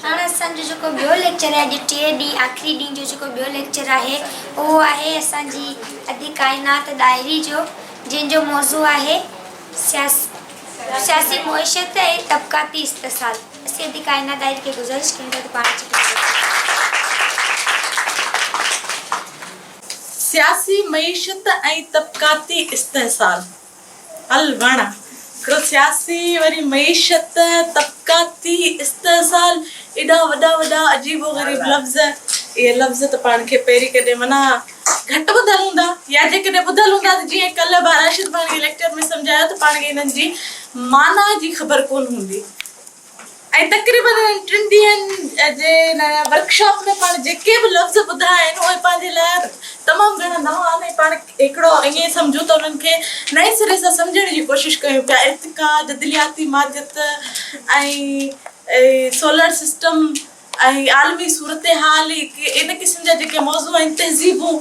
هاڻ اسان جو جيڪو ٻيو ليڪچر آهي اڄ ٽئين ڏينهن آخري ڏينهن جو جيڪو ٻيو ليڪچر آهي اهو آهي اسان جي ادي ڪائنات ڏاهري جو جنهن جو موضوع آهي سياسي معيشت ۽ طبقاتي استحصال اسين ادي ڪائنات ڏاهري کي گذارش ڪريون ٿا ته پاڻ اچي سياسي معيشت ۽ طبقاتي استحصال. الوڻ هڪڙو سياسي وري معيشت طبقاتي استحصال ايڏا وڏا وڏا عجيب و غريب لفظ اهي لفظ ته پاڻ کي پهرين ڪڏهن معنيٰ گهٽ ٻڌل هوندا يا جيڪڏهن ٻڌل هوندا ته جيئن ڪلهه ڀا راشد پاڻ کي ليڪچر ۾ سمجهايو ته پاڻ کي انهن جي معنيٰ جي خبر ڪونه هوندي ۽ تقريبن انهن ٽن ڏينهن جي ان ورڪ شاپ ۾ پاڻ جيڪي به لفظ ٻڌا آهن اهي پنهنجي لاء تمام گهڻا نوان آهن ۽ پاڻ هڪڙو ائين سمجهون ته انهن کي نئين سري سان سمجهڻ جي ڪوشش ڪيون پيا ارتقا جدلياتي ماديت ۽ سولر سسٽم ۽ عالمي صورتحال ان قسم جا جيڪي موضوع آهن تهذيبون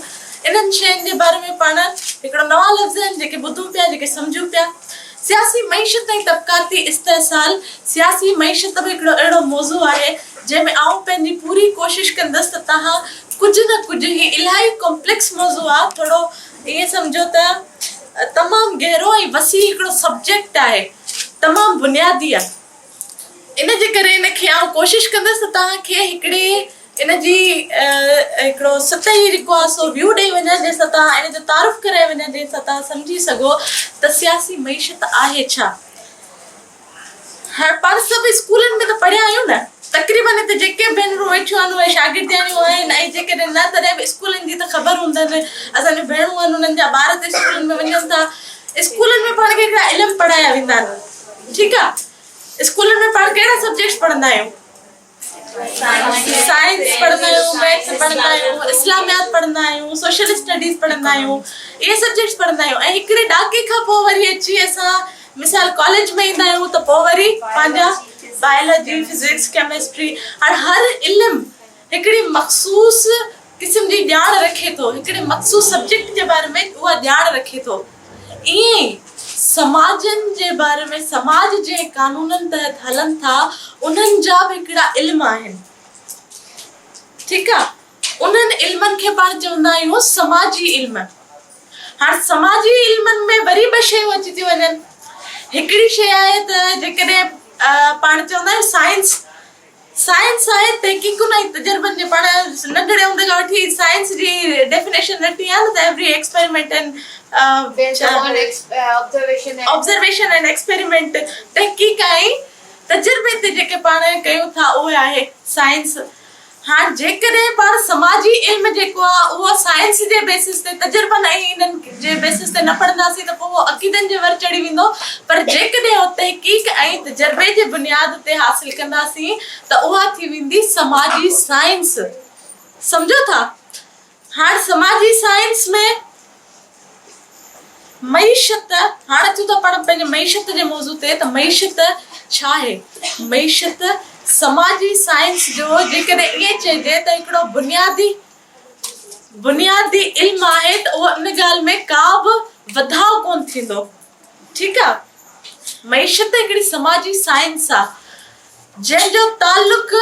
انهن شين جي باري ۾ پاڻ هڪڙا نوان لفظ آهن جيڪي ٻڌون پيا جيڪي سمجهون پيا سياسي معيشت ۽ طبقاتي استحصال سياسي معيشت به هڪڙو اهڙو موضوع آهي جنهن ۾ آئون پنهنجي پوري ڪوشش ڪندس ته تهان ڪجهه نه ڪجهه هي الاهي ڪمپليڪس موضوع آهي ٿورو ائين سمجهو ته تمام گهرو ۽ وسيع هڪڙو سبجيڪٽ آهي تمام بنيادي آهي. ان جي ڪري ان کي آئون ڪوشش ڪندس ته توهان کي هڪڙي ان جي هڪڙو سطحي جيڪو آهي سو ويو ڏئي وڃان جنهن سان توهان ان جو تعارف ڪرائي وڃان جنهن سان توهان سمجهي سگهو ته سياسي معيشت آهي ڇا؟ هاڻ پاڻ سڀ اسڪولن ۾ ته پڙهيا آهيون نه تقريبن هتي جيڪي ڀينرون ويٺيون آهن اهي شاگردياڻيون آهن ۽ جيڪڏهن نه تڏهن به اسڪولن جي ته خبر هوندن اسان جون ڀيڻون آهن انهن جا ٻار ته اسڪولن ۾ وڃن ٿا اسڪولن ۾ پاڻ کي هڪڙا علم پڙهايا ويندا آهن ٺيڪ آ اسڪولن ۾ پاڻ ڪهڙا سبجيڪٽس پڙهندا آهيون سائنس پڙهندا آهيون ميٿس پڙهندا آهيون اسلاميات پڙهندا آهيون سوشل اسٽڊيز پڙهندا آهيون اهي سبجيڪٽس پڙهندا آهيون ۽ هڪڙي ڏاڪي کان پوء وري اچي اسان مثال ڪاليج ۾ ايندا آهيون ته پوء وري پنهنجا بائيلاجي فزڪس ڪيمسٽري هاڻ هر علم هڪڙي مخصوص قسم جي ڄاڻ رکي ٿو، هڪڙي مخصوص سبجيڪٽ جي باري ۾ اها ڄاڻ رکي ٿو. ائين ئي سماجن جي باري ۾ سماج جنهن قانونن تحت هلن ٿا انهن جا به هڪڙا علم آهن. ٺيڪ آ. انهن علمن کي پاڻ چوندا آهيون سماجي علم. هاڻ سماجي علمن ۾ وري ٻه شيون اچي ٿيون وڃن. هڪڙي شيء آهي ته جيڪڏهن پاڻ چوندا آهيون سائنس، سائنس سائت تحقيقن ۽ تجربن جي پاڻ ننڍڙي هوندي کان وٺي سائنس جي ڊيفينيشن رکڻي آهي نه ته every experiment and based on observation and experiment تحقيق ۽ تجربي تي جيڪي پاڻ ڪيون ٿا اهي آهي سائنس هاڻ جيڪڏهن پاڻ سماجي علم جيڪو آهي اهو سائنس جي بيسس تي تجربن ۽ انهن جي بيسس تي نه پڙهنداسين ته پوء اهو عقيدن جي ور چڙهي ويندو، پر جيڪڏهن اهو تحقيق ۽ تجربي جي بنياد تي حاصل ڪنداسين ته اها ٿي ويندي سماجي سائنس. سمجهو ٿا؟ هاڻ سماجي سائنس ۾ معيشت، هاڻ اچون ٿا پاڻ پنهنجي معيشت جي موضوع تي ته معيشت ڇا آهي؟ معيشت سماجي سائنس جو جيڪڏهن ائين چئجي ته هڪڙو بنيادي، بنيادي علم آهي ته اهو ان ڳالهه ۾ ڪا به وڌاء ڪونه ٿيندو ٺيڪ آ معيشت هڪڙي سماجي سائنس آ جنهن جو تعلق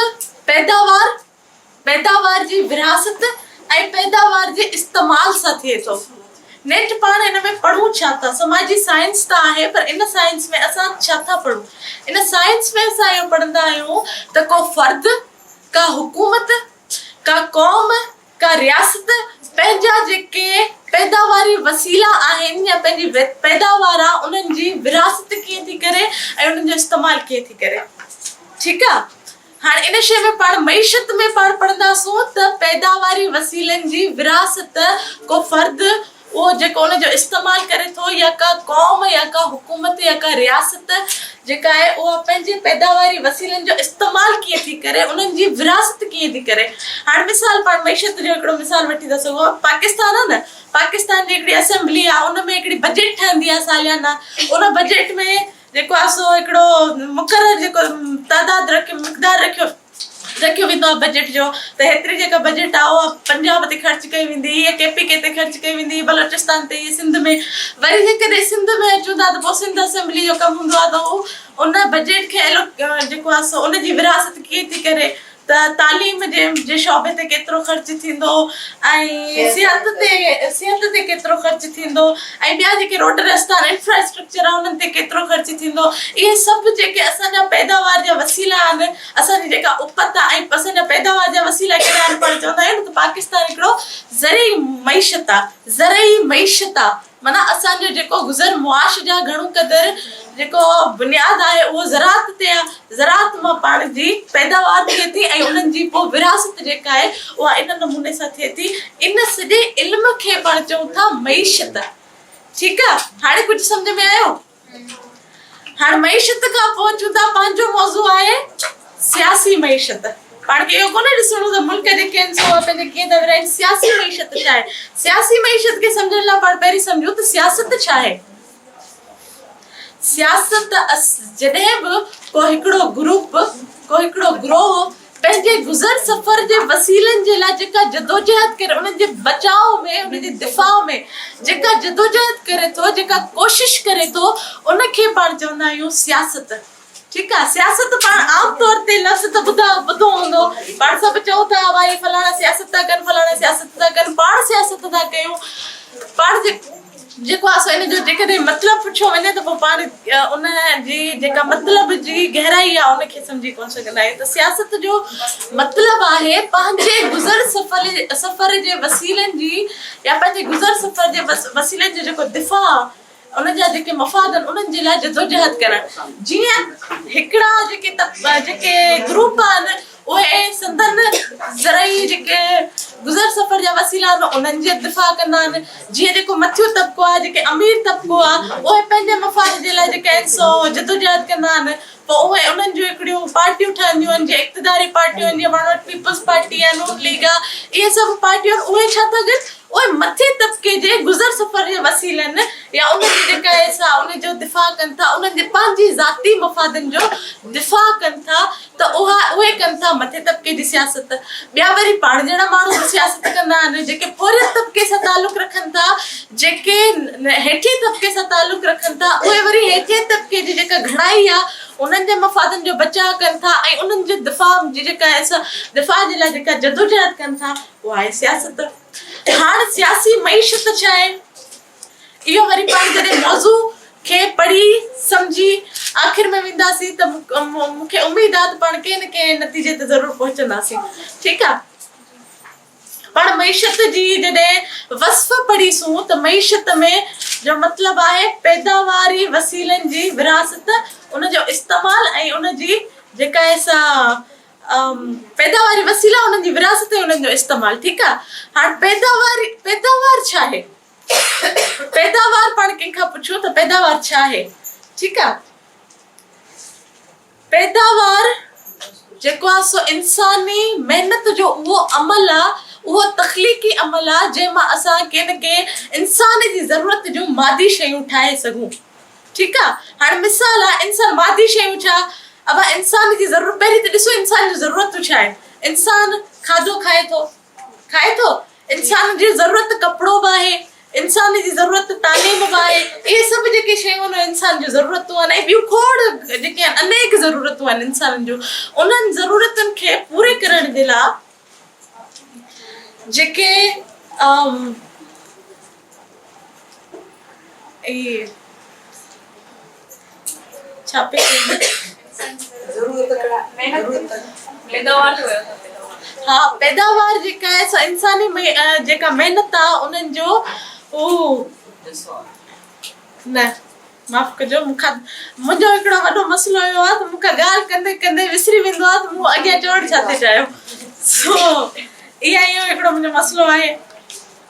پيداوار پيداوار جي ورهاست ۽ پيداوار جي استعمال سان ٿئي ٿو نيٺ پاڻ ان ۾ پڙهون ڇا ٿا سماجي سائنس ته آهي پر ان سائنس ۾ اسان ڇا ٿا پڙهون ان سائنس ۾ اسان اهو پڙهندا آهيون ته ڪو فرد ڪا حڪومت ڪا قوم، ڪا رياست پنهنجا جيڪي پيداواري وسيلا آهن يا پنهنجي پيداوار آ انهن جي ورهاست ڪيئن ٿي ڪري ۽ انهن جو استعمال ڪيئن ٿي ڪري ٺيڪ آ هاڻي ان شئي ۾ پاڻ معيشت ۾ پاڻ پڙهنداسون ته پيداواري وسيلن جي ورهاست ڪو فرد اهو جيڪو ان جو استعمال ڪري ٿو يا ڪا قوم يا ڪا حڪومت يا ڪا رياست جيڪا آهي اها پنهنجي پيداواري وسيلن جو استعمال ڪيئن ٿي ڪري انهن جي ورهاست ڪيئن ٿي ڪري هاڻ مثال پاڻ معيشت جو هڪڙو مثال وٺي ٿا سگهو پاڪستان آهي نه پاڪستان جي هڪڙي اسيمبلي آهي ان ۾ هڪڙي بجيٽ ٺهندي آهي ساليانا ان بجيٽ ۾ جيڪو آهي سو هڪڙو مقرر جيڪو تعداد رکيو مقدار رکيو رکيو ويندو آهي بجيٽ جو ته هيتري جيڪا بجيٽ آهي اها پنجاب تي خرچ ڪئي ويندي هئي ڪي پي ڪي تي خرچ ڪئي ويندي هئي بلوچستان تي هئي سنڌ ۾ وري جيڪڏهن سنڌ ۾ اچون ٿا ته پوء سنڌ اسيمبلي جو ڪم هوندو آهي ته هو ان بجيٽ کي ايلو جيڪو آهي سو ان جي ورهاست ڪيئن ٿي ڪري ته تعليم جي جي شعبي تي ڪيترو خرچ ٿيندو ۽ صحت تي صحت تي ڪيترو خرچ ٿيندو ۽ ٻيا جيڪي روڊ رستا ۽ انفراسٽرڪچر آهي انهن تي ڪيترو خرچ ٿيندو اهي سڀ جيڪي اسان جا پيداوار جا وسيلا آهن اسان جي جيڪا اپت آهي ۽ اسان جا پيداوار جا وسيلا ڪهڙا آهن پاڻ چوندا آهيون نه ته پاڪستان هڪڙو زرعي معيشت آهي زرعي معيشت آهي معنيٰ اسان جو جيڪو گذر معاش جا گهڻو قدر جيڪو بنياد آهي اهو زراعت تي آهي زراعت مان پاڻ جي پيداوار ٿئي ٿي ۽ انهن جي پوء ورهاست جيڪا آهي اها ان نموني سان ٿئي ٿي ان سڄي علم کي پاڻ چئون ٿا معيشت ٺيڪ آ هاڻي ڪجهه سمجهه ۾ آيو هاڻ معيشت کان پوء چون ٿا پنهنجو موضوع آهي سياسي معيشت پاڻ کي اهو ڪونه ڏسڻو ته ملڪ جي ڪين سو پنهنجي ڪين ٿا ورهائين سياسي معيشت ڇا آهي سياسي معيشت کي سمجهڻ لاء پاڻ پهرين سمجهون ته سياست ڇا آهي سياست ته اس جڏهن به ڪو هڪڙو گروپ، ڪو هڪڙو گروهه پنهنجي گذر سفر جي وسيلن جي لاء جيڪا جدوجهد ڪري، انهن جي بچاء ۾ انهن جي دفاع ۾ جيڪا جدوجهد ڪري ٿو، جيڪا ڪوشش ڪري ٿو، ان کي پاڻ چوندا آهيون سياست. ٺيڪ آ سياست پاڻ عام طور تي لفظ ته ٻڌا ٻڌو هوندو پاڻ سڀ چئون ٿا وا هي فلاڻا سياست ٿا ڪن فلاڻا سياست ٿا ڪن پاڻ سياست ٿا ڪيون پاڻ جي جيڪو آ سو ان جو جيڪڏهن مطلب پڇيو وڃي ته پو پاڻ ان جي جيڪا مطلب جي گهرائي آ ان کي سمجهي ڪون سگهندا آهيون ته سياست جو مطلب آهي پنهنجي گذر سفر سفر جي وسيلن جي يا پنهنجي گذر سفر جي وسيلن جو جيڪو دفاع ان جا جيڪي مفاد آهن انهن جي لاء جدوجهد ڪرڻ جيئن هڪڙا جيڪي جيڪي گروپ آهن اهي سندن زرعي جيڪي گذر سفر جا وسيلا آهن انهن جي دفاع ڪندا آهن جيئن جيڪو مٿيون طبقو آهي جيڪي امير طبقو آهي اهي پنهنجي مفاد جي لاء جيڪي آهن سو جدوجهد ڪندا آهن پوء اهي انهن جون هڪڙيون پارٽيون ٺهنديون آهن جي اقتداري پارٽيون آهن جيئن پاڻ وٽ پيپلز پارٽي آهي نون ليگ آهي اهي سڀ پارٽيون آهن اهي ڇا ٿا ڪن اهي مٿين طبقي جي گذر سفر جي وسيلن يا انهن جي جيڪا اهي سا ان جو دفاع ڪن ٿا انهن جي پنهنجي ذاتي مفادن جو دفاع ڪن ٿا ته اها اهي ڪن ٿا مٿين طبقي جي سياست ٻيا وري پاڻ جهڙا ماڻهو به سياست ڪندا آهن جيڪي پورهيت طبقي سان تعلق رکن ٿا جيڪي هيٺين طبقي سان تعلق رکن ٿا اهي وري هيٺين طبقي جي جيڪا گهڻائي آهي انهن جي مفادن جو بچاء ڪن ٿا ۽ انهن جي دفاع جي جيڪا دفاع جي لاء جيڪا جدوجهد ڪن ٿا اها آهي سياست هاڻ سياسي معيشت ڇا آهي اهو وري پاڻ جڏهن موضوع کي پڙهي سمجهي آخر ۾ وينداسين ته مون کي اميد آهي ته پاڻ ڪنهن نه ڪنهن نتيجي تي ضرور پهچنداسين ٺيڪ آهي پڻ معيشت جي جڏهن وصف پڙهي سون ته معيشت ۾ جو مطلب آهي پيداواري وسيلن جي ورهاست ان جو استعمال ۽ ان جي جيڪا آهي سا پيداواري وسيلا انهن جي ورهاست ۽ انهن جو استعمال ٺيڪ آهي هاڻ پيداوار پيداوار ڇا آهي پيداوار پاڻ ڪنهن کان پڇو ته پيداوار ڇا آهي ٺيڪ آهي. پيداوار جيڪو آ سو انساني محنت جو اهو عمل آ اهو تخليقي عمل آ جنهن مان اسان ڪي نه ڪي انسان جي ضرورت جون مادي شيون ٺاهي سگهون ٺيڪ آ هاڻي مثال آ انسان مادي شيون ڇا اوهان انسان جي ضرورت پهرين ته ڏسو انسان جون ضرورتون ڇا آهن انسان کاڌو کائي ٿو کائي ٿو انسان جي ضرورت ڪپڙو به آهي انسان جي ضرورت تعليم به آهي اهي سڀ جيڪي شيون آهن انسان جون ضرورتون آهن ۽ ٻيون کوڙ جيڪي آهن انيڪ ضرورتون آهن انسانن جون انهن ضرورتن کي پوري ڪرڻ جي لاء جيڪي اهي ڇا پئي ها پيداوار جيڪا آهي سو انساني جيڪا محنت آهي انهن جو نه معاف ڪجو مون کان منهنجو هڪڙو وڏو مسئلو اهو آهي ته مون کان ڳالهه ڪندي ڪندي وسري ويندو آهي ته مون اڳيان چوڻ ڇا ٿي چاهيو سو اها اهو هڪڙو منهنجو مسئلو آهي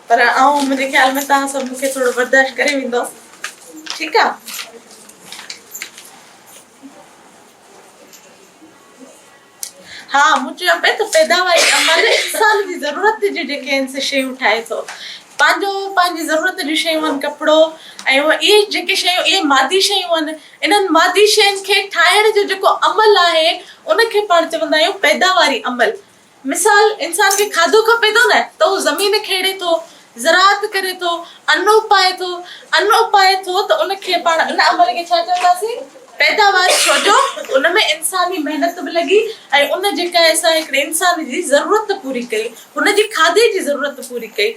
پر آئون منهنجي خيال ۾ تان سڀ مون کي ٿورو برداشت ڪري ويندو ٺيڪ آهي ها مون چيو پئي ته پيداواري عمل انسان جي ضرورت جون جيڪي آهن سي شيون ٺاهي ٿو پنهنجو پنهنجي ضرورت جون شيون آهن ڪپڙو ۽ اهي جيڪي شيون اهي مادي شيون آهن انهن مادي شين کي ٺاهڻ جو جيڪو عمل آهي ان کي پاڻ چوندا آهيون پيداواري عمل مثال انسان کي کاڌو کپي ٿو نه ته هو زمين کيڙي ٿو زراعت ڪري ٿو، ان اپائي ٿو، ان اپائي ٿو ته ان کي پاڻ ان عمل کي ڇا چونداسين؟ پيداوار ڇو جو ان ۾ انساني محنت به لڳي ۽ ان جيڪا اسان هڪڙي انسان جي ضرورت پوري ڪئي، هن جي کاڌي جي ضرورت پوري ڪئي.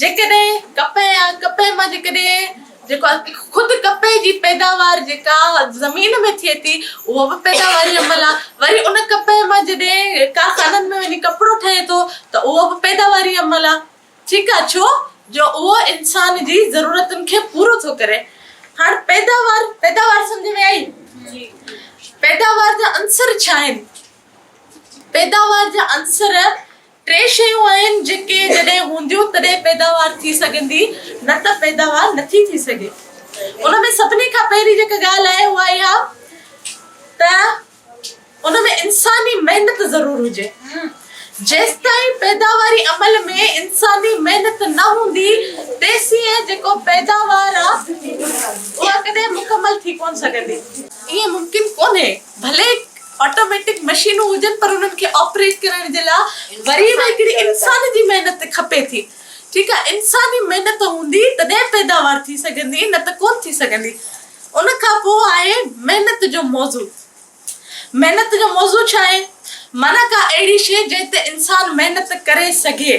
جيڪڏهن ڪپهه آ، ڪپهه مان جيڪڏهن جيڪو خود ڪپهه جي پيداوار جيڪا زمين ۾ ٿئي ٿي اهو به پيداواري عمل آ، وري ان ڪپهه مان جڏهن ڪارخانن ۾ وڃي ڪپڙو ٺهي ٿو ته اهو به پيداواري عمل آ. ڇيڪا ڇو جو اهو انسان جي ضرورتن کي پورو ٿو ڪري هاڻ پيداوار پيداوار سمجهه ۾ آئي پيداوار جا عنصر ڇا آهن پيداوار جا عنصر ٽي شيون آهن جيڪي جڏهن هونديون تڏهن پيداوار ٿي سگهندي نه ته پيداوار نٿي ٿي سگهي ان ۾ سڀني کان پهرين جيڪا ڳالهه آهي اها اها ته ان ۾ انساني محنت ضرور هجي. جيستائين پيداواري عمل ۾ انساني محنت نه هوندي تيسين جيڪو پيداوار آ اها ڪڏهن مڪمل ٿي ڪونه سگهندي. ائين ممڪن ڪونهي. ڀلي آٽوميٽڪ مشينون هجن پر انهن کي آپريٽ ڪرڻ جي لاء وري به هڪڙي انسان جي محنت کپي ٿي. ٺيڪ آ. انساني محنت هوندي تڏهن پيداوار ٿي سگهندي نه ته ڪونه ٿي سگهندي. ان کان پوء آهي محنت جو موضوع. محنت جو موضوع ڇا آهي؟ معنيٰ ڪا اهڙي شيء جنهن تي انسان محنت ڪري سگهي.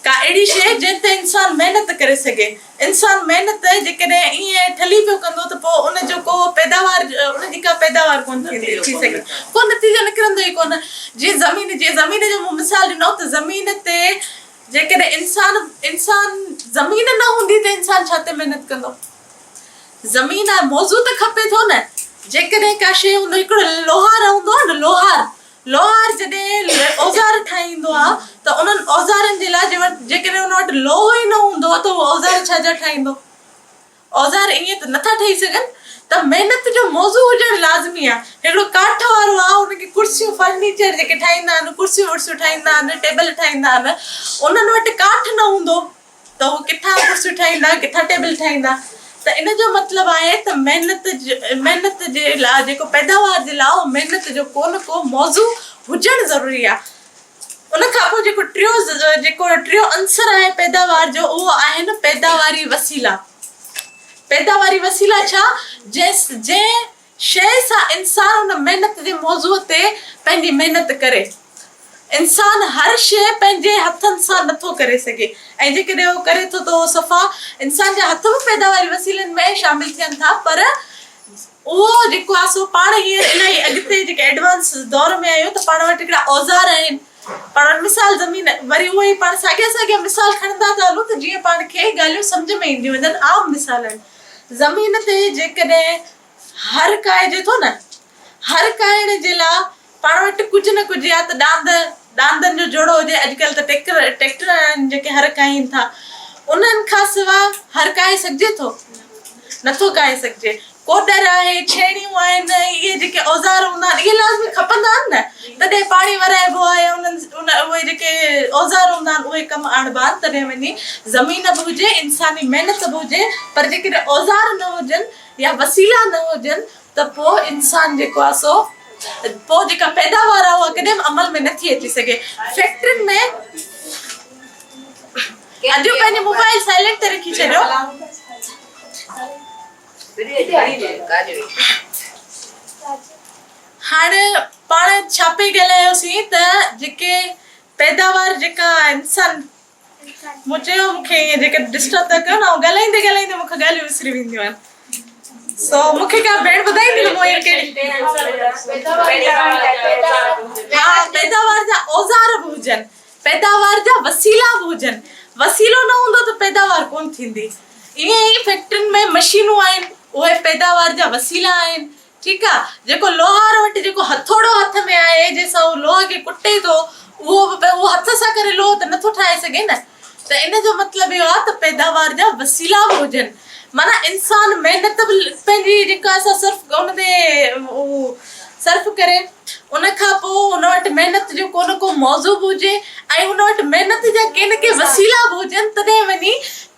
ڪا اهڙي شيء جنهن تي انسان محنت ڪري سگهي. انسان محنت جيڪڏهن ائين ٺلهي پيو ڪندو ته پوء ان جو ڪو پيداوار ان جي ڪا پيداوار ڪونه ٿيندي ٿي سگهي. ڪو نتيجو نڪرندو ئي ڪونه. جيئن زمين جي زمين جو مون مثال ڏنو ته زمين تي جيڪڏهن انسان انسان زمين نه هوندي ته انسان ڇا تي محنت ڪندو؟ زمين آهي موضوع ته کپي ٿو نه. جيڪڏهن ڪا شيء هوندو هڪڙو لوهار هوندو آهي نه لوهار لوهار جڏهن اوزار ٺاهيندو آهي ته انهن اوزارن جي لاء جيڪڏهن ان وٽ لوهو ئي نه هوندو ته هو اوزار ڇا جا ٺاهيندو؟ اوزار ائين ته نٿا ٺهي سگهن ته محنت جو موضوع هجڻ لازمي آهي. هڪڙو ڪاٺ وارو آهي ان کي ڪرسيون فرنيچر جيڪي ٺاهيندا آهن ڪرسيون ورسيون ٺاهيندا آهن ٽيبل ٺاهيندا آهن انهن وٽ ڪاٺ نه هوندو ته هو ڪٿان ڪرسيون ٺاهيندا ڪٿان ٽيبل ٺاهيندا ته ان جو مطلب آهي ته محنت محنت جي لاء جيڪو پيداوار جي لاء محنت جو ڪو نه ڪو موضوع هجڻ ضروري آهي. ان کان پوء جيڪو ٽيون جيڪو ٽيون عنصر آهي پيداوار جو اهو آهن پيداواري وسيلا. پيداواري وسيلا ڇا؟ جنهن جنهن شيء سان انسان ان محنت جي موضوع تي پنهنجي محنت ڪري. انسان هر شيء پنهنجي هٿن سان نه ٿو ڪري سگهي ۽ جيڪڏهن اهو ڪري ٿو ته اهو صفا انسان جا هٿ به پيداواري وسيلن ۾ شامل ٿين ٿا پر اهو جيڪو آهي سو پاڻ هيئن الائي اڳتي جيڪي ايڊوانس دور ۾ آهيون ته پاڻ وٽ هڪڙا اوزار آهن پاڻ وٽ مثال زمين وري اهو ئي پاڻ ساڳيا ساڳيا مثال کڻندا ٿا هلون ته جيئن پاڻ کي ڳالهيون سمجهه ۾ اينديون وڃن عام مثال آهن زمين تي جيڪڏهن هر ڪائجي ٿو نه هر ڪائڻ جي لاء پاڻ وٽ ڪجهه نه ڪجهه يا ته ڏاند ڏاندن جو جوڙو هجي اڄڪلهه ته ٽيڪر ٽيڪٽر آهن جيڪي هر ڪاهين ٿا انهن کان سوا هر ڪاهي سگهجي ٿو؟ نه ٿو ڪاهي سگهجي ڪوڏر آهي ڇيڻيون آهن اهي جيڪي اوزار هوندا آهن اهي لازمي کپندا آهن نه تڏهن پاڻي ورائبو آهي انهن اهي جيڪي اوزار هوندا آهن اهي ڪم آڻبا آهن تڏهن وڃي زمين به هجي انساني محنت به هجي پر جيڪڏهن اوزار نه هجن يا وسيلا نه هجن ته پوء انسان جيڪو آهي سو پوء جيڪا پيداوار آهي اها ڪڏهن به عمل ۾ نه ٿي اچي سگهي فيڪٽرين ۾ اڄ پنهنجي موبائل سائلنٽ تي رکي ڇڏيو. هاڻي پاڻ ڇا پئي ڳالهايوسين ته جيڪي پيداوار جيڪا انسان مون چيو مون کي ائين جيڪڏهن ڊسٽرب ٿا ڪيو نه آئون ڳالهائيندي ڳالهائيندي مون کان ڳالهيون وسري وينديون آهن سو مون کي ڪا ڀيڻ ٻڌائيندي نه مون ائين ڪهڙي ها پيداوار جا اوزار به هجن پيداوار جا وسيلا به هجن وسيلو نه هوندو ته پيداوار ڪونه ٿيندي ائين ئي فيڪٽرين ۾ مشينون آهن اهي پيداوار جا وسيلا آهن ٺيڪ آ جيڪو لوهار وٽ جيڪو هٿوڙو هٿ ۾ آهي جنهن سان هو لوهه کي ڪٽي ٿو اهو به اهو هٿ سان ڪري لوهه ته نٿو ٺاهي سگهي نه ته ان جو مطلب اهو آ ته پيداوار جا وسيلا به هجن معنيٰ انسان محنت به پنهنجي جيڪا اسان صرف ان تي اهو صرف ڪري ان کان پو ان وٽ محنت جو ڪو نه ڪو موضوع به هجي ۽ ان وٽ محنت جا ڪي نه ڪي وسيلا به هجن تڏهن وڃي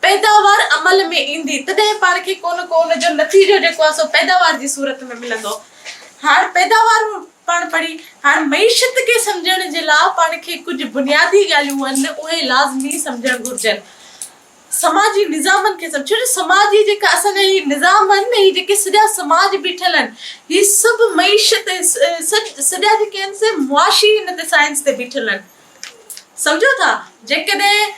پيداوار عمل ۾ ايندي تڏهن پاڻ کي ڪو نه ڪو ان جو نتيجو جيڪو آهي سو پيداوار جي صورت ۾ ملندو. هاڻ پيداوار پاڻ پڙهي هاڻ معيشت کي سمجهڻ جي لاء پاڻ کي ڪجهه بنيادي ڳالهيون آهن اهي لازمي سمجهڻ گهرجن. سماجي نظامن کي سمجهڻ ڇو جو سماج هي جيڪا اسان جا هي نظام آهن نه هي جيڪي سڄا سماج بيٺل آهن هي سڀ معيشت سڄا جيڪي آهن سي معاشي هن تي سائنس تي بيٺل آهن سمجهو ٿا جيڪڏهن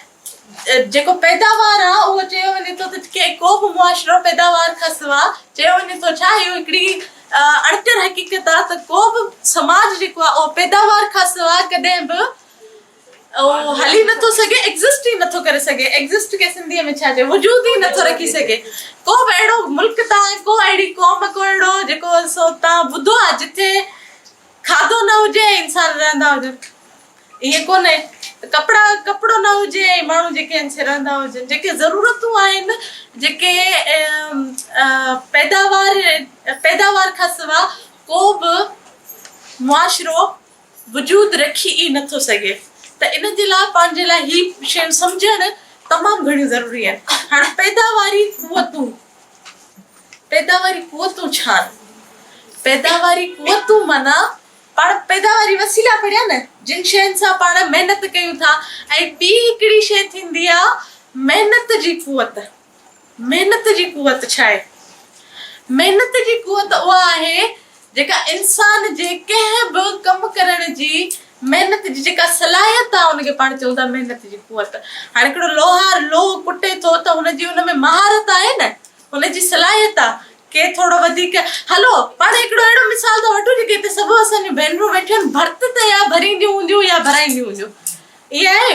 جيڪو پيداوار آ اهو چيو وڃي ٿو ته ڪي ڪو به معاشرو پيداوار کان سوا چيو وڃي ٿو ڇا اهو هڪڙي اڻڪر حقيقت آ ته ڪو به سماج جيڪو آ اهو پيداوار کان سوا ڪڏهن به اهو هلي نه ٿو سگهي ايگزسٽ ئي نه ٿو ڪري سگهي ايگزسٽ کي سنڌي ۾ ڇا چئبو وجود ئي نه ٿو رکي سگهي ڪو به اهڙو ملڪ تان ڪو اهڙي قوم ڪو اهڙو جيڪو سو تان ٻڌو آ جتي کاڌو نه هجي ۽ انسان رهندا هجن. ائين ڪونهي ته ڪپڙا ڪپڙو نه هجي ۽ ماڻهو جيڪي آهن سي رهندا هجن. جيڪي ضرورتون آهن، جيڪي پيداوار پيداوار کان سوا ڪو به معاشرو وجود رکي ئي نٿو سگهي ته ان جي لاء پنهنجي لاء هي شيون سمجهڻ تمام گهڻيون ضروري آهن. هاڻي پيداواري قوتون پيداواري قوتون ڇا آهن؟ پيداواري قوتون معنيٰ پاڻ پيداواري وسيلا پڙهيا نه جن شين سان پاڻ محنت ڪيون ٿا ۽ ٻي هڪڙي شي ٿيندي آ محنت جي قوت محنت جي قوت ڇا آهي محنت جي قوت اها آهي جيڪا انسان جي ڪنهن به ڪم ڪرڻ جي محنت جي جيڪا صلاحيت آ ان کي پاڻ چئون ٿا محنت جي قوت هاڻي هڪڙو لوهار لوهه ڪٽي ٿو ته هن جي ان ۾ مهارت آهي نه ان جي صلاحيت آ. ڪي ٿورو وڌيڪ هلو پاڻ هڪڙو اهڙو مثال ٿا وٺون جيڪي هتي سڀ اسان جون ڀينرون ويٺيون آهن ڀرت ته يا ڀرينديون هونديون يا ڀرائينديون هونديون ائين آهي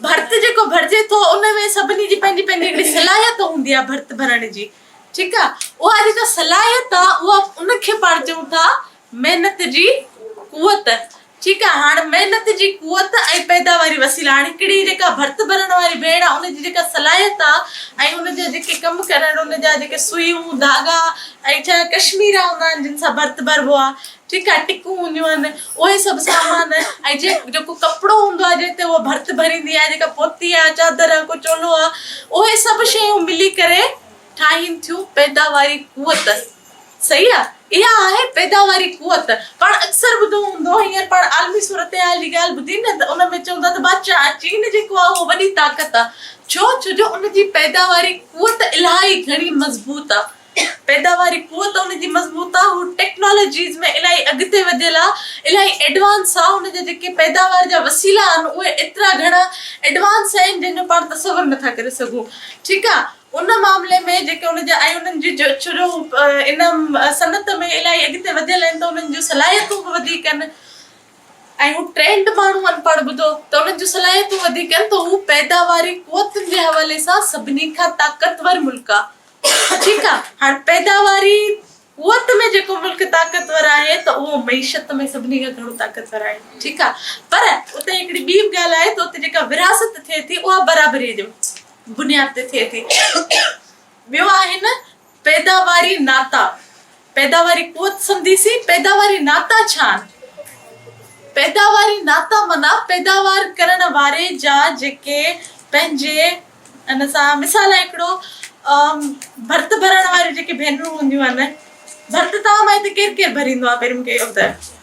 ڀرت جيڪو ڀرجي ٿو ان ۾ سڀني جي پنهنجي پنهنجي هڪڙي صلاحيت هوندي آهي ڀرت ڀرڻ جي ٺيڪ آهي اها جيڪا صلاحيت آهي اها ان کي پاڻ چئون ٿا محنت جي قوت، ٺيڪ آ هاڻ محنت جي قوت ۽ پيداواري وسيلا هاڻ هڪڙي جيڪا ڀرت ڀرڻ واري ڀيڻ آ ان جي جيڪا صلاحيت آ ۽ ان جا جيڪي ڪم ڪرڻ ان جا جيڪي سوئيون ڌاڳا ۽ جا ڪشميرا هوندا آهن جن سان ڀرت ڀربو آ ٺيڪ آ ٽڪون هونديون آهن اهي سڀ سامان ۽ جي جيڪو ڪپڙو هوندو آ جنهن تي هو ڀرت ڀريندي آ جيڪا پوتي آ چادر آ ڪو چولو آ اهي سڀ شيون ملي ڪري ٺاهين ٿيون پيداواري قوت صحيح آ اها آهي پيداواري قوت. پاڻ اڪثر ٻڌو هوندو هينئر پاڻ عالمي صورتحال جي ڳالهه ٻڌي نه ته ان ۾ چوندا ته بادشاهه آ چين جيڪو آ اهو وڏي طاقت آ ڇو ڇوجو ان جي پيداواري قوت الاهي گهڻي مضبوط آ پيداواري قوت ان جي مضبوط آ هو ٽيڪنالاجيز ۾ الاهي اڳتي وڌيل آ الاهي ايڊوانس آ هن جا جيڪي پيداوار جا وسيلا آهن اهي ايترا گهڻا ايڊوانس آهن جنهن جو پاڻ تصور نٿا ڪري سگهون ٺيڪ آ. ان معاملي ۾ جيڪي ان جا ۽ انهن جي جوڇرو ان صنعت ۾ الاهي اڳتي وڌيل آهن ته انهن جون صلاحيتون به وڌيڪ آهن ۽ هو ٽرينڊ ماڻهو آهن پاڻ ٻڌو ته انهن جون صلاحيتون وڌيڪ آهن ته هو پيداواري قوتن جي حوالي سان سڀني کان طاقتور ملڪ آهي ٺيڪ آهي هاڻي پيداواري قوت ۾ جيڪو ملڪ طاقتور آهي ته اهو معيشت ۾ سڀني کان گهڻو طاقتور آهي ٺيڪ آهي پر اتي هڪڙي ٻي به ڳالهه آهي ته اتي جيڪا ورهاست ٿئي ٿي اها برابري جي بنياد تي ٿئي ٿي. ٻيو آهن پيداواري ناتا، پيداواري قوت سمجهي سي پيداواري ناتا ڇا آهن؟ پيداواري ناتا معنيٰ پيداوار ڪرڻ واري جا جيڪي پنهنجي ان سان مثال آهي هڪڙو ڀرت ڀرڻ واريون جيڪي ڀينرون هونديون آهن ڀرت تان مائي ته ڪير ڪير ڀريندو آهي پهرين مون کي اهو ٻڌايو.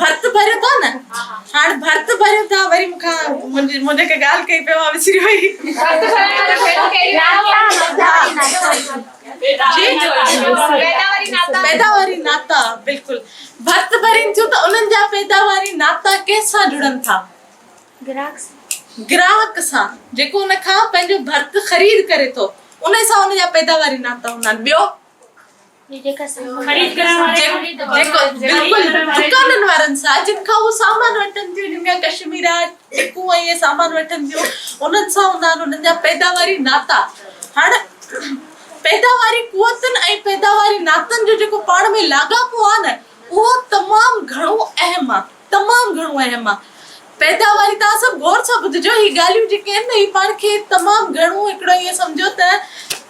ڀرت ڀريو ٿا نه هاڻ ڀرت ڀريو ٿا وري مون کان منهنجي هڪ ڳالهه ڪئي پيو مان وسري وئي ڀرت ڀريو ٿا پيداواري ناتا بلڪل ڀرت ڀرين ٿيون ته انهن جا پيداواري ناتا ڪنهن سان جڙن ٿا گراهڪ سان گراهڪ سان جيڪو ان کان پنهنجو ڀرت خريد ڪري ٿو انهي سان ان جا پيداواري ناتا هوندا آهن ٻيو دڪانن وارن سان جن کان هو سامان وٺن ٿيون جن کان ڪشميرا چڪون ۽ اهي سامان وٺن ٿيون انهن سان هوندا آهن انهن جا پيداواري ناتا هاڻ پيداواري قوتن ۽ پيداواري ناتن جو جيڪو پاڻ ۾ لاڳاپو آهي نه اهو تمام گهڻو اهم آهي تمام گهڻو اهم آ پيداواري توهان سڀ غور سان ٻڌجو هي ڳالهيون جيڪي آهن نه هي پاڻ کي تمام گهڻو هڪڙو ائين سمجهو ته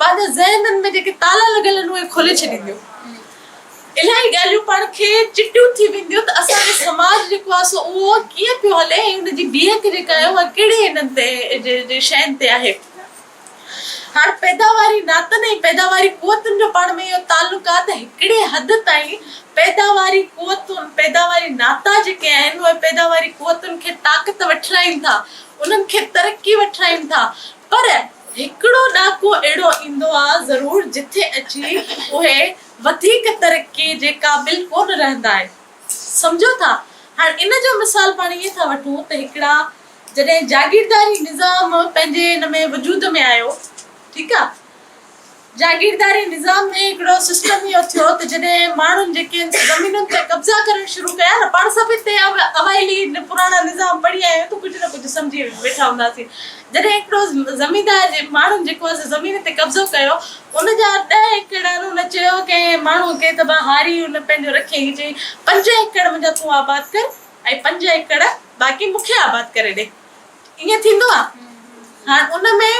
پنهنجا ذهنن ۾ جيڪي تالا لڳل آهن اهي کولي ڇڏينديون الائي ڳالهيون پاڻ کي چٽيون ٿي وينديون ته اسان جو سماج جيڪو آ سو اهو ڪيئن پيو هلي ۽ ان جي بيهڪ جيڪا آهي اها ڪهڙي انهن تي شين تي آهي. هاڻ پيداواري ناتن ۽ پيداواري قوتن جو پاڻ ۾ اهو تعلق آهي ته هڪڙي حد تائين پيداواري قوتون، پيداواري ناتا جيڪي آهن اهي پيداواري قوتن کي طاقت وٺرائين ٿا، انهن کي ترقي وٺرائين ٿا پر هڪڙو ڏاڪو اهڙو ايندو آهي ضرور جتي اچي اهي وڌيڪ ترقي جي قابل ڪونه رهندا آهن. سمجهو ٿا؟ هاڻ ان جو مثال پاڻ ائين ٿا وٺون ته هڪڙا جڏهن جاگيرداري نظام پنهنجي ان ۾ وجود ۾ آيو ٺيڪ آ جاگيرداري نظام ۾ هڪڙو سسٽم اهو ٿيو ته جڏهن ماڻهن جيڪي ان زمينن تي قبضا ڪرڻ شروع ڪيا نه پاڻ سڀ هتي اوائلي پراڻا نظام پڙهي آيا آهيون ته ڪجهه نه ڪجهه سمجهي ويٺا هونداسين جڏهن هڪڙو زميندار جي ماڻهن جيڪو آ سو زمين تي قبضو ڪيو ان جا ڏهه ايڪڙ ان چيو ڪنهن ماڻهو کي ته ڀا هاري ان پنهنجو رکيائين چيائين پنج ايڪڙ منهنجا تون آباد ڪر ۽ پنج ايڪڙ باقي مون کي آباد ڪري ڏي. ائين ٿيندو آ. هاڻ ان ۾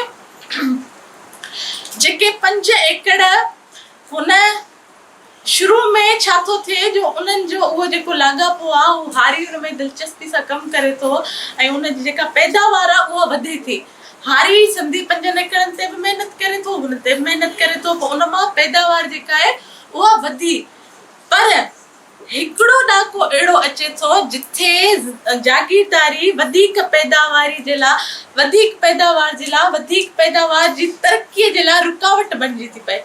جيڪي پنج ايڪڙ هن شروع ۾ ڇا ٿو ٿئي جو انهن جو اهو جيڪو لاڳاپو آ اهو هاري ان ۾ دلچسپي سان ڪم ڪري ٿو ۽ ان جي جيڪا پيداوار آ اها وڌي ٿي. هاري سنڌي پنجن ايڪڙن تي به محنت ڪري ٿو هن تي به محنت ڪري ٿو پوء ان مان پيداوار جيڪا آهي اها وڌي پر هڪڙو ڏهاڪو اهڙو اچي ٿو جتي جاگيرداري وڌيڪ پيداواري جي لاء وڌيڪ پيداوار جي لاء وڌيڪ پيداوار جي ترقي جي لاء رڪاوٽ بڻجي ٿي پئي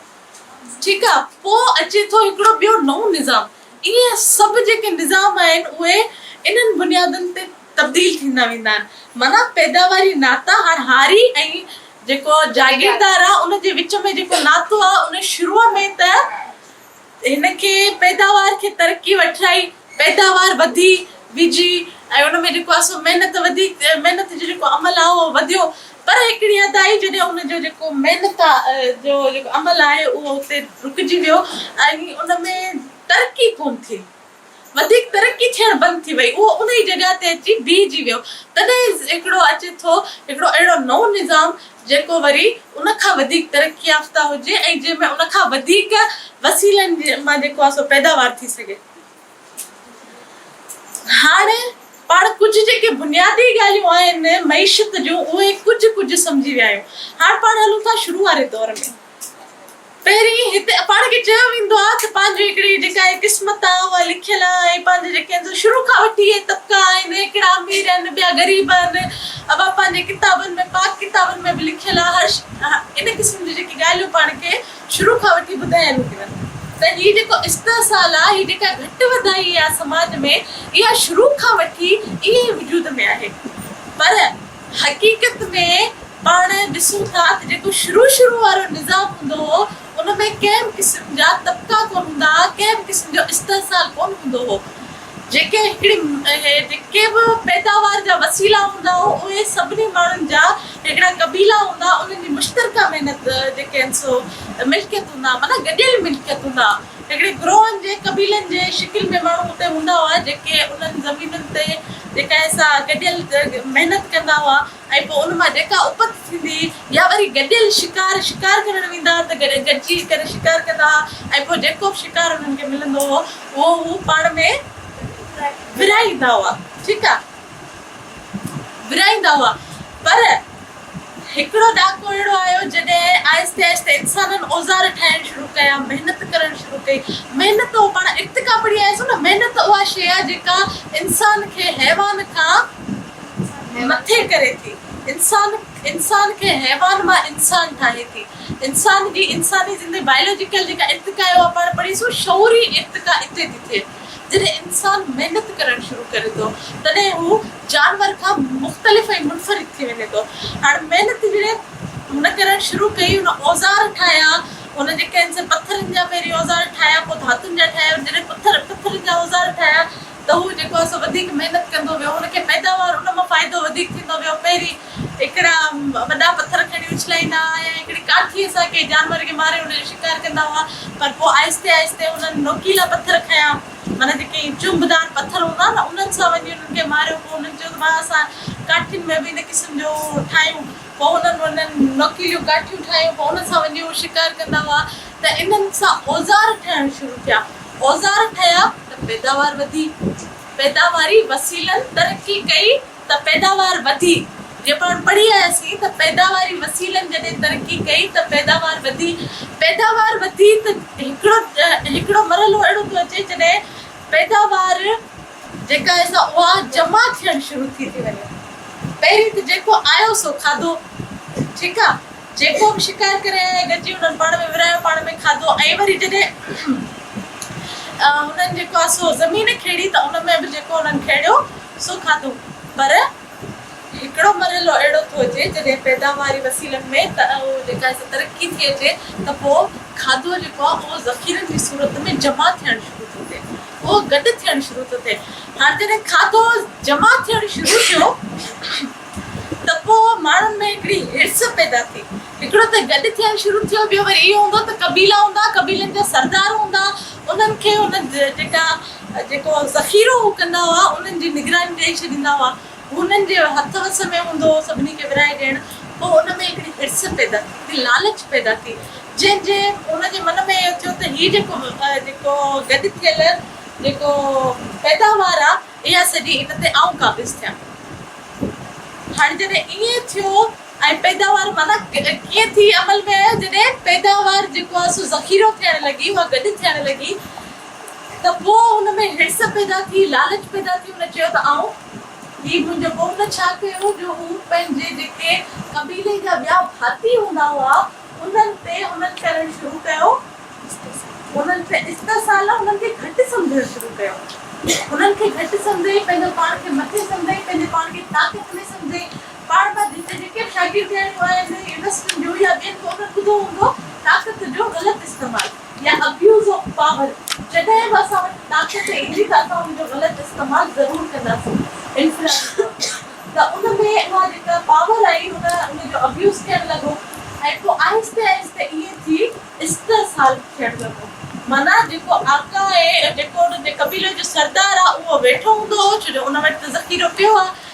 ٺيڪ آ پو اچي ٿو هڪڙو ٻيو نئون نظام ائين سڀ جيڪي نظام آهن اهي انهن بنيادن تي تبديل ٿيندا ويندا آهن معنيٰ پيداواري ناتا هاڻ هاري ۽ جيڪو جاگيردار آ ان جي وچ ۾ جيڪو ناتو آ ان شروع ۾ ته هن کي پيداوار کي ترقي وٺرائي، پيداوار وڌي ويجهي ۽ ان ۾ جيڪو آهي سو محنت وڌي، محنت جو جيڪو عمل آهي اهو وڌيو پر هڪڙي حد تائين جڏهن ان جو جيڪو محنت جو جيڪو عمل آهي اهو اتي رڪجي ويو ۽ ان ۾ ترقي ڪونه ٿي. وڌيڪ ترقي ٿيڻ بند ٿي وئي، اهو انهيء جڳهه تي اچي بيهجي ويو. تڏهن هڪڙو اچي ٿو، هڪڙو اهڙو نئون نظام، جيڪو وري ان کان وڌيڪ ترقي يافته هجي ۽ جنهن ۾ ان کان وڌيڪ وسيلن مان جيڪو آهي سو پيداوار ٿي سگهي. هاڻ پاڻ ڪجهه جيڪي بنيادي ڳالهيون آهن معيشت جون، اهي ڪجهه ڪجهه سمجهي ويا آهيون. هاڻ پاڻ هلون ٿا شروع واري دور ۾. پهرين هتي پاڻ کي چيو ويندو آهي ته پنهنجي هڪڙي جيڪا هي قسمت آهي اها لکيل آهي ۽ پنهنجي جيڪي اندر شروع کان وٺي هي طبقا آهن هي ڪهڙا امير آهن ٻيا غريب آهن اها پنهنجي ڪتابن ۾ پاڪ ڪتابن ۾ به لکيل آهي هر ان قسم جون جيڪي ڳالهيون پاڻ کي شروع کان وٺي ٻڌايل هيون ته هي جيڪو استحصال آهي هي جيڪا گهٽ وڌائي آهي سماج ۾ اها شروع کان وٺي ائين ئي وجود ۾ آهي پر حقيقت ۾ پاڻ ڏسون ٿا ته جيڪو شروع شروع وارو نظام هوندو هو ان ۾ ڪنهن به قسم جا طبقا ڪونه هوندا ها ڪنهن به قسم جو استحصال ڪونه هوندو هو جيڪي هڪڙي جيڪي به پيداوار جا وسيلا هوندا هو اهي سڀني ماڻهن جا هڪڙا قبيلا هوندا انهن جي مشترڪه محنت جيڪي آهن سو ملڪيت هوندا معنيٰ گڏيل ملڪيت هوندا هڪڙي گروهن جي قبيلن جي شڪل ۾ ماڻهو اتي هوندا هئا جيڪي انهن زمينن تي جيڪا سا گڏيل محنت ڪندا هئا ۽ پوء ان مان جيڪا اپت ٿيندي هئي يا وري گڏيل شڪار شڪار ڪرڻ ويندا ته گڏجي ڪري شڪار ڪندا هئا ۽ پوء جيڪو به شڪار انهن کي ملندو هو اهو هو پاڻ ۾ ورهائيندا هئا ٺيڪ آ ورهائيندا هئا پر هڪڙو ڏهاڪو اهڙو آيو جڏهن آهستي آهستي انسانن اوزار ٺاهڻ شروع ڪيا، محنت ڪرڻ شروع ڪئي، محنت هو پاڻ ارتقا پڙهي آياسون نه محنت اها شيء آهي جيڪا انسان کي حيوان کان مٿي ڪري ٿي، انسان انسان کي حيوان مان انسان ٺاهي ٿي، انسان جي انساني زندگي بائيولوجيڪل جيڪا ارتقا آهي اها پاڻ پڙهيسون شعوري ارتقا اتي ٿي ٿئي. جڏهن انسان محنت ڪرڻ شروع ڪري ٿو تڏهن هو جانور کان مختلف ۽ منفرد ٿي وڃي ٿو. هاڻ محنت جڏهن هن ڪرڻ شروع ڪئي هن اوزار ٺاهيا هن جي ڪنهن سين پٿرن جا پهرين اوزار ٺاهيا پوء ڌاتن جا ٺاهيا ۽ جڏهن پٿر پٿرن جا اوزار ٺاهيا ته هو جيڪو آهي سو وڌيڪ محنت ڪندو ويو هن کي پيداوار ان مان فائدو وڌيڪ ٿيندو ويو پهرين هڪڙا وڏا پٿر کڻي اڇلائيندا هئا يا هڪڙي ڪاٺيء سان ڪنهن جانور کي ماري ان جو شڪار ڪندا هئا پر پوء آهستي آهستي انهن نوڪيلا پٿر کنيا معنيٰ جيڪي ائين چنبدار پٿر هوندا آهن نه انهن سان وڃي انهن کي ماريو پوء انهن چيو ته ڀاء اسان ڪاٺين ۾ به ان قسم جو ٺاهيون پوء انهن انهن نوڪيليون ڪاٺيون ٺاهيون پوء انهن سان وڃي اهو شڪار ڪندا هئا ته انهن سان اوزار ٺهڻ شروع ٿيا اوزار ٺهيا ته پيداوار وڌي پيداواري وسيلن ترقي ڪئي. ته پيداوار وڌي جي پاڻ پڙهي آياسين ته پيداواري وسيلن جڏهن ترقي ڪئي ته پيداوار وڌي پيداوار وڌي ته هڪڙو هڪڙو مرحلو اهڙو ٿو اچي جڏهن پيداوار جيڪا اهي سا اها جمع ٿيڻ شروع ٿي ٿي وڃي پهرين ته جيڪو آيو سو کاڌو ٺيڪ آ جيڪو به شڪار ڪري آيا گڏجي انهن پاڻ ۾ ورهايو پاڻ ۾ کاڌو ۽ وري جڏهن هنن جيڪو آ سو زمين کيڙي ته ان ۾ به جيڪو انهن کيڙيو سو کاڌو پر هڪڙو مرحلو اهڙو ٿو اچي جڏهن پيداواري وسيلن ۾ جيڪا ترقي ٿي اچي ته پوء کاڌو جيڪو آهي اهو ذخيرن جي صورت ۾ جمع ٿيڻ شروع ٿو ٿئي اهو گڏ ٿيڻ شروع ٿو ٿئي هاڻ جڏهن کاڌو جمع ٿيڻ شروع ٿيو ته پوء ماڻهن ۾ هڪڙي حرص پيدا ٿي هڪڙو ته گڏ ٿيڻ شروع ٿيو ٻيو وري اهو هوندو ته قبيلا هوندا قبيلن جا سردار هوندا انهن کي ان جيڪا جيڪو ذخيرو هو ڪندا هئا، انهن جي نگراني ڏيئي ڇڏيندا هئا. هو انهن جي هٿ وس ۾ هوندو هو سڀني کي ورهائي ڏيڻ. پوء ان ۾ هڪڙي حرص پيدا ٿي، هڪڙي لالچ پيدا ٿي، جنهن جي هن جي من ۾ اهو ٿيو ته هي جيڪو جيڪو گڏ ٿيل جيڪو پيداوار آ، اها سڄي ان تي آئون قابض ٿيان. هاڻي جڏهن ائين ٿيو ۽ پيداوار معنيٰ ڪيئن ٿي عمل ۾ آيو، جڏهن پيداوار جيڪو آ سو ذخيرو ٿيڻ لڳي، اها گڏ ٿيڻ لڳي، ته پوء هن ۾ حرص پيدا ٿي، لالچ پيدا ٿي، هن چيو ته آئون، هي منهنجو قوم نه ڇا ڪيو جو هو پنهنجي جيڪي قبيلي جا ٻيا ڀاتي هوندا هئا انهن تي حمل ڪرڻ شروع ڪيو، انهن تي استحصال، انهن کي گهٽ سمجهڻ شروع ڪيو، انهن کي گهٽ سمجهي، پنهنجو پاڻ کي مٿي سمجهي، پنهنجي پاڻ کي طاقت ۾ سمجهي، پاڻ مان جتي جيڪي به شاگردياڻيون آهن يونيورسٽين جون يا ٻين ڪو به ٻڌو هوندو طاقت جو غلط استعمال. يا ابيوز آف پاور، جڏهن به اسان وٽ طاقت ايندي ته اسان ان جو غلط استعمال ضرور ڪنداسين انفرادي طور تي ته ان ۾ اها جيڪا پاور آئي ان ان جو ابيوز ٿيڻ لڳو ۽ پوء آهستي آهستي ائين ٿي استحصال ٿيڻ لڳو معنيٰ جيڪو آقا ۽ جيڪو انهن جي قبيلي جو سردار آهي اهو ويٺو هوندو هو ڇو جو ان وٽ ته ذخيرو پيو آهي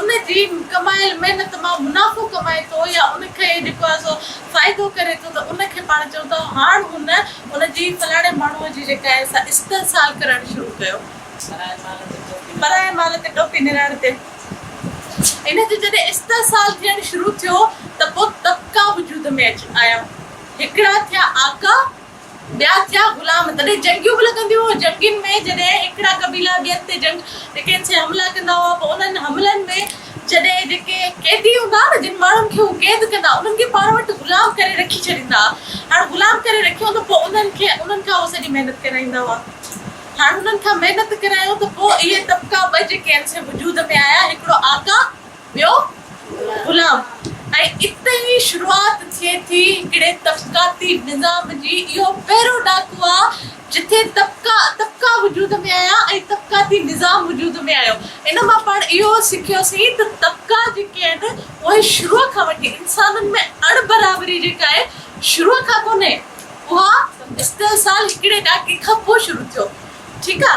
ان جي ڪمايل محنت مان منافعو ڪمائي ٿو يا ان کي جيڪو آهي سو فائدو ڪري ٿو ته ان کي پاڻ چئون ٿا هاڻ هن ان جي فلاڻي ماڻهوء جي جيڪا آهي سا استحصال ڪرڻ شروع ڪيو. پرائي مال تي ٽوپي نرائڻ تي ان جو جڏهن استحصال ٿيڻ شروع ٿيو ته پوء طبقا وجود ۾ آيا. هڪڙا ٿيا آقا. ٻيا ٿيا غلام تڏهن جنگيون به لڳنديون هيون جنگين ۾ جڏهن هڪڙا قبيلا ٻين تي جنگ جيڪي سي حملا ڪندا هئا پوء انهن حملن ۾ جڏهن جيڪي قيدي هوندا ها نه جن ماڻهن کي هو قيد ڪندا ها انهن کي پاڻ وٽ غلام ڪري رکي ڇڏيندا ها هاڻ غلام ڪري رکيو ته پوء انهن کي انهن کان هو سڄي محنت ڪرائيندا هئا هاڻ انهن کان محنت ڪرايو ته پوء اهي طبقا ٻه جيڪي سي وجود ۾ آيا هڪڙو آقا ٻيو غلام ۽ اتي ئي شروعات ٿئي ٿي هڪڙي طبقاتي نظام جي اهو پهريون ڏاڪو آ جتي طبقا طبقا وجود ۾ آيا ۽ طبقاتي نظام وجود ۾ آيو ان مان پاڻ اهو سکيو سين ته طبقا جيڪي آهن اهي شروع کان وٺي انسانن ۾ اڻ برابري جيڪا آهي شروع کان ڪونهي اها استحصال هڪڙي ڏاڪي کان پوء شروع ٿيو ٺيڪ آ.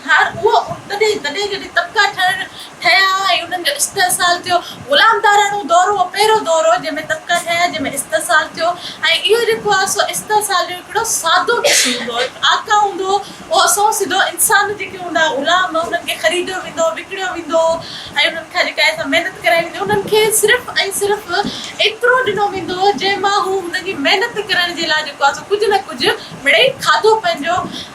هاڻ اهو ان تڏهن تڏهن جڏهن طبقا ٺهڻ ٺهيا ۽ انهن جو استحصال ٿيو. غلامداراڻو دور اهو پهريون دور هو جنهن ۾ طبقا ٺهيا جنهن ۾ استحصال ٿيو ۽ اهو جيڪو آهي سو استحصال جو هڪڙو سادو قسم هوندو هو. هڪ آقا هوندو هو اهو سئو سڌو انسان جيڪي هوندا هئا غلام انهن کي خريديو ويندو هو وڪڻيو ويندو هو ۽ انهن کان جيڪا آهي سا محنت ڪرائي ويندي هئي انهن کي صرف ۽ صرف ايترو ڏنو ويندو هو جنهن مان هو هن جي محنت ڪرڻ جي لاء جيڪو آهي سو ڪجهه نه ڪجهه مڙئي کاڌو پنهنجو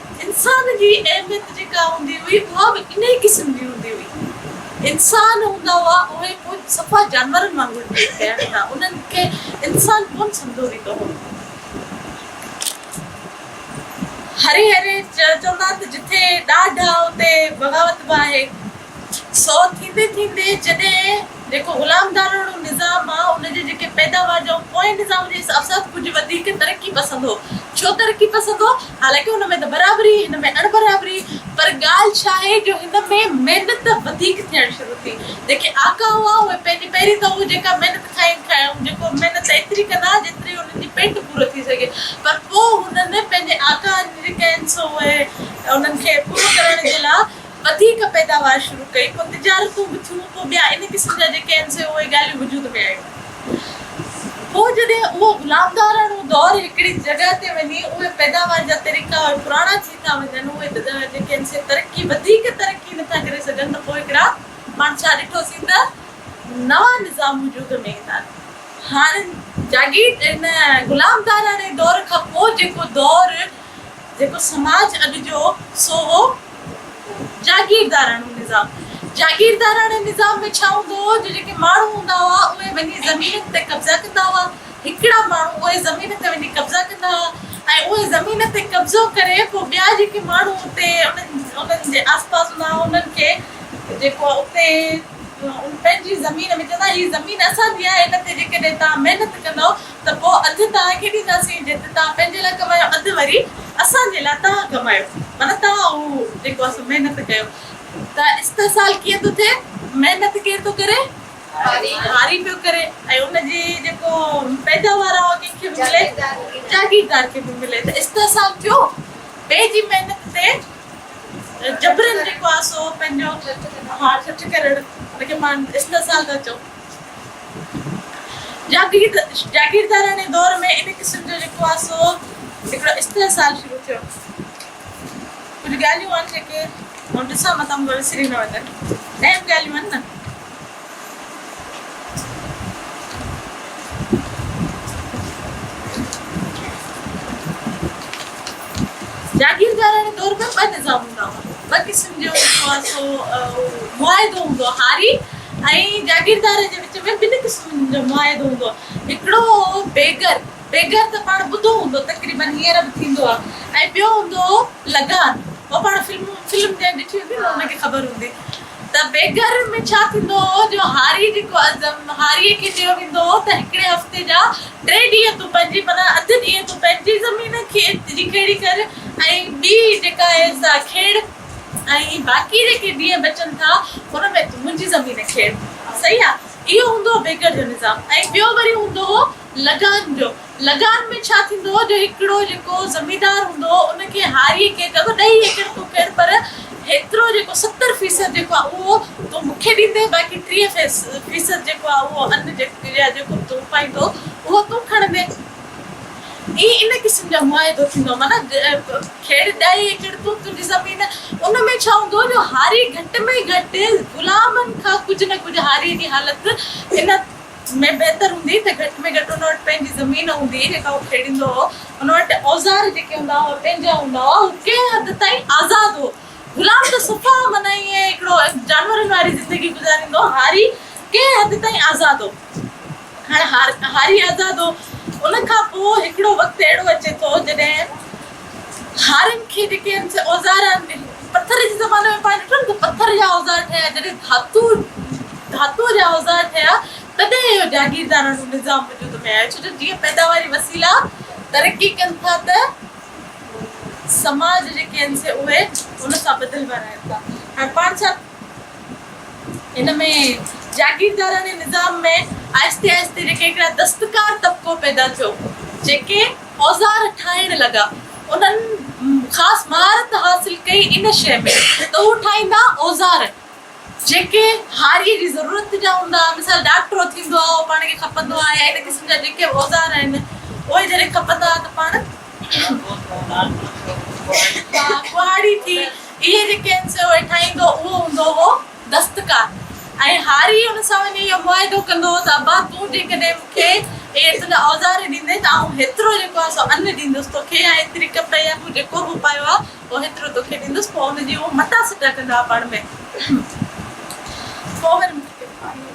انسان جي اهميت جيڪا هوندي هئي اها به انهي قسم جي هوندي هئي. انسان هوندا هئا اهي ڪجهه صفا جانورن وانگر جيئي پيا هوندا انهن کي انسان ڪونه سمجهيو ويندو هو. هري هري چوندا ته جتي ڏاڍ آ اتي بغاوت به آهي. سو ٿيندي ٿيندي جڏهن جيڪو غلامداراڻو نظام آ ان جي جيڪي پيداوار جا اهو پوئين نظام جي حساب ڪجهه وڌيڪ ترقي پسند هو ڇو ترقي پسند هو حالانڪه ان ۾ ته برابري هن ۾ اڻ برابري پر ڳالهه ڇا آهي جو هن ۾ محنت وڌيڪ ٿيڻ شروع ٿي جيڪي آقا هئا اهي پنهنجي پهرين ته اهو جيڪا محنت کائين کائون جيڪو محنت ايتري ڪن ها جيتري انهن جي پيٽ پورو ٿي سگهي پر پوء هنن پنهنجي آقا جن جي ڪين سو اهي انهن کي پورو ڪرڻ جي لا وڌيڪ پيداوار شروع ڪئي، پوء تجارتون به ٿيون، پوء ٻيا ان قسم جا جيڪي آهن سي اهي ڳالهيون وجود ۾ آيون. پوء جڏهن اهو غلامداراڻو دور هڪڙي جڳهه تي وڃي اهي پيداوار جا طريقا اهي پراڻا ٿي ٿا وڃن، اهي تجارت جيڪي آهن سي ترقي وڌيڪ ترقي نه ٿا ڪري سگهن ته پوء هڪڙا پاڻ ڇا ڏٺوسين ته نوان نظام وجود ۾ ايندا آهن. هاڻ جاگير ان غلامداراڻي دور کان پوء جيڪو دور جيڪو سماج اڳ جو سو هو جاگيرداراڻو نظام. جاگيرداراڻي نظام ۾ ڇا هوندو هو جو جيڪي ماڻهو هوندا هئا اهي وڃي زمينن تي قبضا ڪندا هئا. هڪڙا ماڻهو اهي زمين تي وڃي قبضا ڪندا هئا ۽ اهي زمين تي قبضو ڪري پوء ٻيا جيڪي ماڻهو اتي انهن جي آس پاس هوندا هئا انهن کي جيڪو اتي پنهنجي زمين ۾ چوندا هئا هي زمين اسان جي آهي هن تي جيڪڏهن توهان محنت ڪندؤ ته پوء اڌ توهان کي ڏينداسين جيتري توهان پنهنجي لاء ڪمايو اڌ وري اسان جي لاء توهان ڪمايو معنيٰ توهان اهو جيڪو آهي سو محنت ڪيو ته استحصال ڪيئن ٿو ٿئي محنت ڪير ٿو ڪري هاري پيو ڪري ۽ ان جي جيڪو پيداوار آهي اهو ڪنهن کي به ملي جاگيردار کي به ملي ته استحصال ٿيو ٻئي جي محنت تي جبرن جيڪو آهي سو پنهنجو ٺٺ ڪرڻ ان کي پاڻ استحصال ٿا چئون. جاگيردارياڻي دور ۾ ان قسم جو جيڪو آهي سو هڪڙو استحصال شروع ٿيو. ڪجهه ڳالهيون آهن جيڪي آئون ڏسان متان مون کان وسري نه وڃن. اهم ڳالهيون آهن نه. جاگيردارڻي دور ۾ ٻه نظام هوندا هئا. ٻه قسم جو جيڪو آهي سو معاهدو هوندو هو. هاري ۽ جاگيردار جي وچ ۾ ٻن قسمن جو معاهدو هوندو هو. هڪڙو هو بيگر، بيگر ته پاڻ ٻڌو هوندو تقريباً هينئر به ٿيندو آهي ۽ ٻيو هوندو هو لگان. اهو پاڻ فلم جنهن ڏٺي هوندي نه ان کي خبر هوندي. ته بيگر ۾ ڇا ٿيندو هو جو هاري جيڪو عزم هاريء کي چيو ويندو هو ته هڪڙي هفتي جا ٽي ڏينهن تون پنهنجي معنيٰ اڌ ڏينهن تون پنهنجي زمين کيت جي کيڙي ڪر ۽ ٻي جيڪا آهي سا کيڙ ۽ باقي جيڪي ڏينهن بچن ٿا ان ۾ تون منهنجي زمين کيڙ صحيح آ اهو هوندو هو بيگر جو نظام ۽ ٻيو وري هوندو هو لگان جو لغار ۾ ڇا ٿيندو جو هڪڙو جيڪو زميندار هوندو ان کي هاريء کي چئو ته ڏهي ايڪڙ تون ڪر پر هيترو جيڪو ستر فيصد جيڪو آهي اهو تون مون کي ڏيندين باقي ٽيهه فيصد جيڪو آهي اهو ان يا جيڪو به تون اپائيندو اهو تون کڻندين. هي ان قسم جا معاهدو ٿيندو معنيٰ کيڙ ڏهي ايڪڙ تون تنهنجي زمين ان ۾ ڇا هوندو جو هاري گهٽ ۾ گهٽ غلامن کان ڪجهه نه ڪجهه هاريء جي حالت ان ۾ بهتر هوندي ته گهٽ ۾ گهٽ ان وٽ پنهنجي زمين هوندي هئي جيڪا هو کيڙيندو هو، ان وٽ اوزار جيڪي هوندا هئا اهي پنهنجا هوندا هئا، هو ڪنهن حد تائين آزاد هو، غلام ته صفا معنيٰ ائين هڪڙو جانورن واري زندگي گذاريندو هو، هاري ڪنهن حد تائين آزاد هو، هاڻ هاري آزاد هو، ان کان پوء هڪڙو وقت اهڙو اچي ٿو جڏهن. هارين کي جيڪي هن جي اوزار آهن اهي پٿر جي زماني ۾ پاڻ ڏٺم ته پٿر جا اوزار ٺهيا جڏهن ڌاتو ڌاتوء جا اوزار ٺهيا تڏهن اهو جاگيرداراڻو نظام وجود ۾ آيو ڇو جو جيئن پيداواري وسيلا ترقي ڪن ٿا ته سماج جيڪي آهن سي اهي ان سان بدلبا رهن ٿا هاڻ پاڻ سان ان ۾ جاگيرداراڻي نظام ۾ آهستي آهستي جيڪي هڪڙا دستڪار طبقو پيدا ٿيو، جيڪي اوزار ٺاهڻ لڳا، انهن خاص مهارت حاصل ڪئي ان شيء ۾ ته هو ٺاهيندا اوزار، جيڪي هاريء جي ضرورت جا هوندا، مثال ڊاڪٽرو ٿيندو آهي، اهو پاڻ کي کپندو آهي ۽ ان قسم جا جيڪي به اوزار آهن، اهي جڏهن کپندا ته پاڻ ڪهاڙي ٿي. اهي جيڪي هن سيو هيٺاهيندو اهو هوندو هو دستڪار ۽ هاري ان سان وڃي اهو معاهدو ڪندو هو ته ابا تون جيڪڏهن مون کي اهي تنهنجا اوزار ڏيندين ته آئون هيترو جيڪو آهي سو ان ڏيندس تو کي ۽ هيتري ڪپڙي يا مون جيڪو به پايو آهي اهو هيترو تو کي ڏيندس پوء ان جي اهو مٽا سٽا ڪندا هئا پاڻ ۾. پوء وري مون کي ڪير پاڻي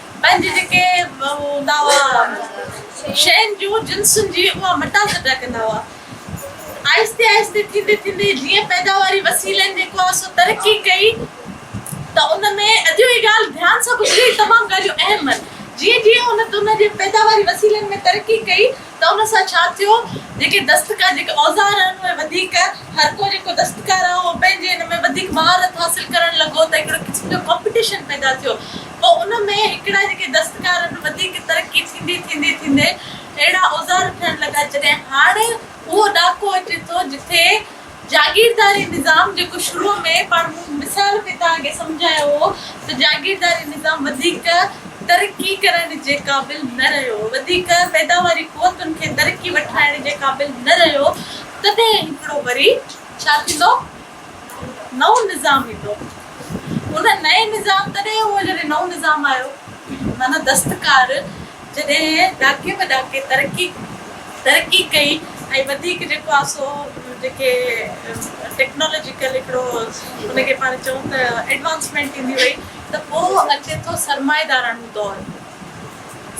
پنهنجي جيڪي هو هوندا هئا شين جون جنسن جي اها مٽاس ادا ڪندا هئا آهستي آهستي ٿيندي ٿيندي جيئن پيداواري وسيلن جيڪو آهي سو ترقي ڪئي ته ان ۾ اجو هي ڳالهه ڌيان سان ٻڌجي تمام ڳالهيون اهم آهن جيئن جيئن ان جي پيداواري وسيلن ۾ ترقي ڪئي ته ان سان ڇا ٿيو؟ جيڪي دستڪار، جيڪي اوزار آهن اهي وڌيڪ، هر ڪو جيڪو دستڪار آهي اهو پنهنجي ان ۾ وڌيڪ مهارت حاصل ڪرڻ لڳو ته هڪڙي قسم جو ڪامپيٽيشن پيدا ٿيو. پوء ان ۾ هڪڙا جيڪي دستڪار آهن وڌيڪ ترقي ٿيندي ٿيندي ٿيندي اهڙا اوزار ٺهڻ لڳا جڏهن هاڻ اهو ڏاڪو اچي ٿو جتي جاگيرداري نظام جيڪو شروع ۾ پاڻ مون مثال ۾ توهان کي سمجهايو هو ته جاگيرداري نظام وڌيڪ ترقي ڪرڻ جي قابل نه رهيو وڌيڪ پيداواري قوتن کي ترقي وٺرائڻ جي قابل نه رهيو تڏهن هڪڙو وري ڇا ٿيندو نئون نظام ايندو. ان نئين نظام تڏهن هو جڏهن نئون نظام آيو معنيٰ دستڪار جڏهن ڏاڪي به ڏاڪي ترقي ترقي ڪئي ۽ وڌيڪ جيڪو آ سو جيڪي ٽيڪنالاجيڪل هڪڙو ان کي پاڻ چئون ته ايڊوانسمينٽ ٿيندي وئي ته پوء اچي ٿو سرمائيداراڻو دور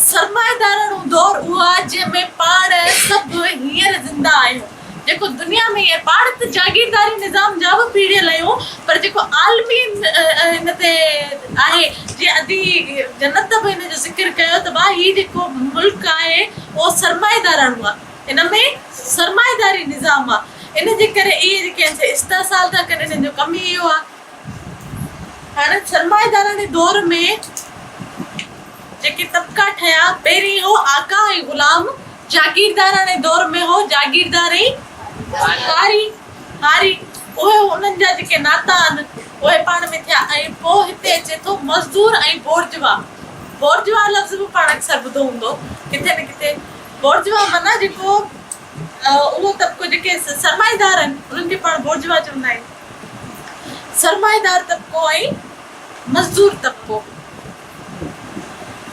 سرمائيداراڻو دور اهو آ جنهن ۾ پاڻ سڀ هينئر زنده آهيون جيڪو دنيا ۾ اهي پاڙت جاگيرداري نظام جا به پيڙهيل اهي پر جيڪو عالمي هن تي آهي جيئن ادي جنت به هن جو ذڪر ڪيو ته ڀاء هي جيڪو ملڪ آهي اهو سرمائيداراڻو آهي ان ۾ سرمائيداري نظام آهي ان جي ڪري اهي جيڪي آهن سي استحصال ٿا ڪن انهن جو ڪم ئي اهو آهي هاڻ سرمائيداراڻي دور ۾ جيڪي طبقا ٺهيا پهرين هو آقا ۽ غلام جاگيرداراڻي دور ۾ هو جاگيردار ئي هاري هاري اهي انهن جا جيڪي ناتا آهن اهي پاڻ ۾ ٿيا ۽ پوء هتي اچي ٿو مزدور ۽ بورجوا بورجوا لفظ به پاڻ اڪثر ٻڌو هوندو ڪٿي نه ڪٿي بورجوا معنيٰ جيڪو اهو طبقو جيڪي سرمائيدار آهن انهن کي پاڻ بورجوا چوندا آهيون سرمائيدار طبقو ۽ مزدور طبقو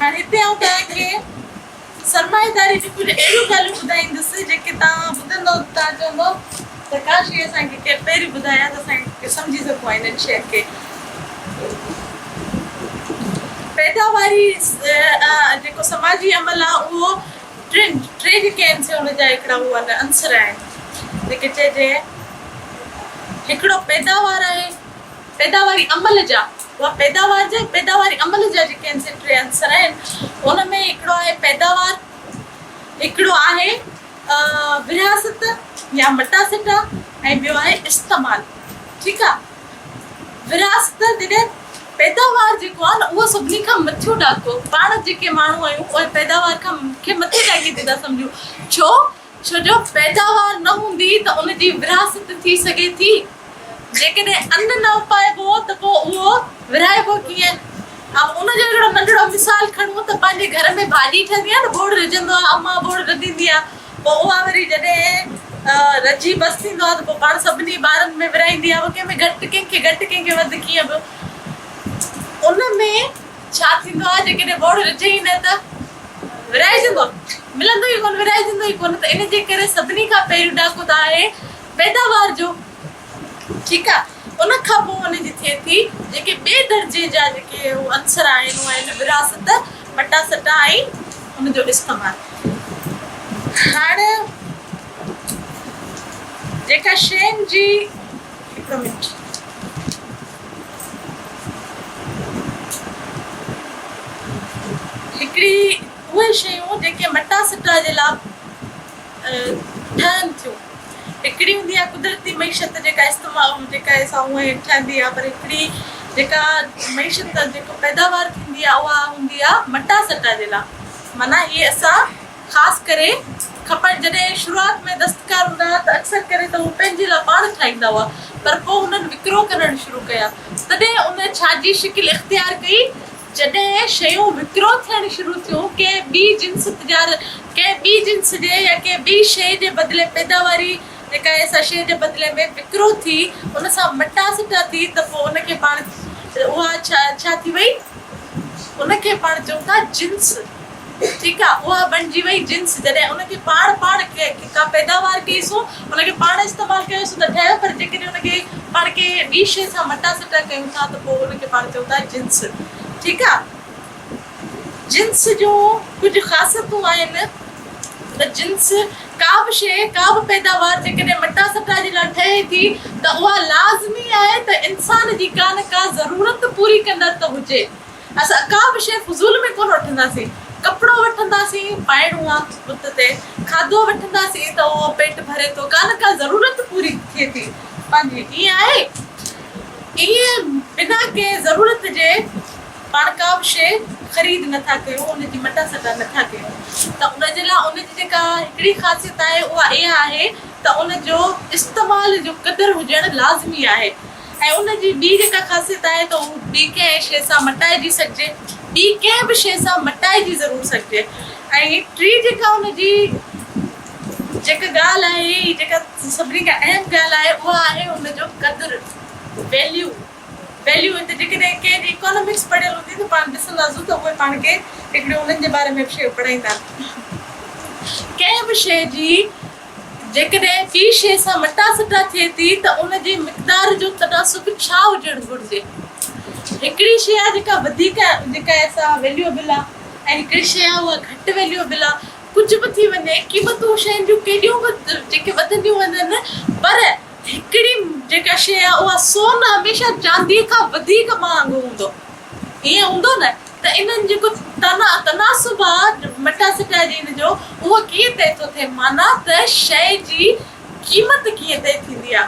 هاڻي هتي آئون توهان کي سرمائيداري جون ڪجهه اهڙيون ڳالهيون ٻڌائيندس جيڪي توهان ٻڌندو ته توهان چوندو ته ڪاش هي اسان کي ڪير پهريون ٻڌائي ها ته اسان سمجهي سگهون ها انهن شين کي پيداواري جيڪو سماجي عمل آهي اهو ٽن ٽي جيڪي آهن سي ان جا هڪڙا هو عنصر آهن جيڪي چئجي هڪڙو پيداوار آهي پيداواري عمل جا اها پيداوار جا ۽ پيداواري عمل جا جيڪي هن سين ٽي عنصر آهن ان ۾ هڪڙو آهي پيداوار هڪڙو آهي ورهاست يا مٽا سٽا ۽ ٻيو آهي استعمال ٺيڪ آ ورهاست جڏهن پيداوار جيڪو آهي نه اهو سڀني کان مٿيون ڏاڪو پاڻ جيڪي ماڻهو آهيون اهي پيداوار کان کي مٿي ڏاڪي تي ٿا سمجهون ڇو ڇو جو پيداوار نه هوندي ته ان جي ورهاست ٿي سگهي ٿي؟ جيڪڏهن ان نه اپائبو ته پوء اهو ورهائبو ڪيئن؟ ۽ ان جو هڪڙو ننڍڙو مثال کڻون ته پنهنجي گهر ۾ ڀاڄي ٺهندي آهي نه ٻوڙ رجهندو آهي اما ٻوڙ رڌيندي آهي پوء اها وري جڏهن رجهي بس ٿيندو آهي ته پوء پاڻ سڀني ٻارن ۾ ورهائيندي آهي ڪنهن ۾ گهٽ ڪنهن کي گهٽ ڪنهن کي وڌ ڪيئن به ان ۾ ڇا ٿيندو آهي جيڪڏهن ٻوڙ رجي ئي نه ته ورهائجندو، ملندو ئي ڪونه، ورهائجندو ئي ڪونه ته ان جي ڪري سڀني کان پهريون ڏاڪو ته آهي پيداوار جو ٺيڪ آهي ان کان پوء ان جي ٿئي ٿي جيڪي ٻئي درجي جا جيڪي عنصر آهن اهي آهن ورهاست، مٽا سٽا ۽ ان جو استعمال هاڻ جيڪا شين جي هڪڙو منٽ. هڪڙي اهي شيون جيڪي مٽا سٽا جي لاء ٺهن ٿيون هڪڙي هوندي آهي قدرتي معيشت جيڪا استعمال جيڪا سا هونئن ٺهندي آهي پر هڪڙي جيڪا معيشت جيڪو پيداوار ٿيندي آهي اها هوندي آهي مٽا سٽا جي لاء معنيٰ هي اسان خاص ڪري کپڻ. جڏهن شروعات ۾ دستڪار هوندا ها ته اڪثر ڪري ته هو پنهنجي لاء پاڻ ٺاهيندا هئا پر پوء هنن وڪرو ڪرڻ شروع ڪيا تڏهن ان ڇا جي شڪل اختيار ڪئي جڏهن شيون وڪرو ٿيڻ شروع ٿيون ڪنهن ٻي جنس تجار ڪنهن ٻي جنس جي يا ڪنهن ٻي شيء جي بدلي پيداواري جيڪا آهي سا شيء جي بدلي ۾ وڪرو ٿي ان سان مٽا سٽا ٿي ته پوء ان کي پاڻ اها ڇا ٿي وئي ان کي پاڻ چئون ٿا جنس. ٺيڪ آ اها بڻجي وئي جنس جڏهن ان کي پاڻ پاڻ ڪا پيداوار ڪئي سو ان کي پاڻ استعمال ڪيو سو ته ٺهيو پر جيڪڏهن ان کي پاڻ ڪنهن ٻي شيء سان مٽا سٽا ڪيون ٿا ته پوء ان کي پاڻ چئون ٿا جنس ٺيڪ آ جنس جون ڪجهه خاصيتون آهن ته جنس ڪا به شيء ڪا به پيداوار جيڪڏهن مٽا سٽا جي لاء ٺهي ٿي ته اها لازمي آهي ته انسان جي ڪا نه ڪا ضرورت پوري ڪندڙ ته هجي اسان ڪا به شيء فضول ۾ ڪونه وٺنداسين. ڪپڙو وٺنداسين، پائڻو آ بت تي. کاڌو وٺنداسين ته اهو پيٽ ڀري ٿو، ڪا نه ڪا ضرورت پوري ٿئي ٿي پنهنجي. ائين آهي؟ ائين بنا ڪنهن ضرورت جي پاڻ ڪا به شيء خريد نه ٿا ڪيون، ان جي مٽا سٽا نه ٿا ڪيون ته ان جي لاء ان جي جيڪا هڪڙي خاصيت آهي اها اها آهي ته ان جو استعمال جو قدر هجڻ لازمي آهي. ۽ ان جي ٻي هڪ خاصيت آهي ته هو ٻي ڪنهن شيء سان مٽائجي سگهجي، ٻي ڪنهن به شيء سان مٽائجي ضرور سگهجي ۽ ٽي جيڪا ان جي جيڪا ڳالهه آهي هي جيڪا سڀني کان اهم ڳالهه آهي اها آهي ان جو قدر Value Value هتي جيڪڏهن ڪنهن جي Economics پڙهيل هوندي ته پاڻ ڏسنداسون ته اهي پاڻ کي هڪڙي انهن جي باري ۾ به شيء پڙهائيندا ڪنهن به شيء جي جيڪڏهن ڪي شيء سان مٽا سٽا ٿئي ٿي ته ان جي مقدار جو تناسب ڇا هجڻ گهرجي؟ هڪڙي شيء آهي جيڪا وڌيڪ آهي جيڪا سا ويليوبل آهي ۽ هڪڙي شيء آهي اها گهٽ ويليوبل آهي ڪجهه به ٿي وڃي قيمتون شين جون ڪيڏيون به جيڪي وڌنديون وڃن پر هڪڙي جيڪا شيء آهي اها سون هميشه چانديء کان وڌيڪ مهانگو هوندو ائين هوندو نه؟ ته انهن جيڪو تناسب آ مٽا سٽا جين جو اهو ڪيئن طئي ٿو ٿئي معنيٰ ته شيء جي قيمت ڪيئن طئي ٿيندي آ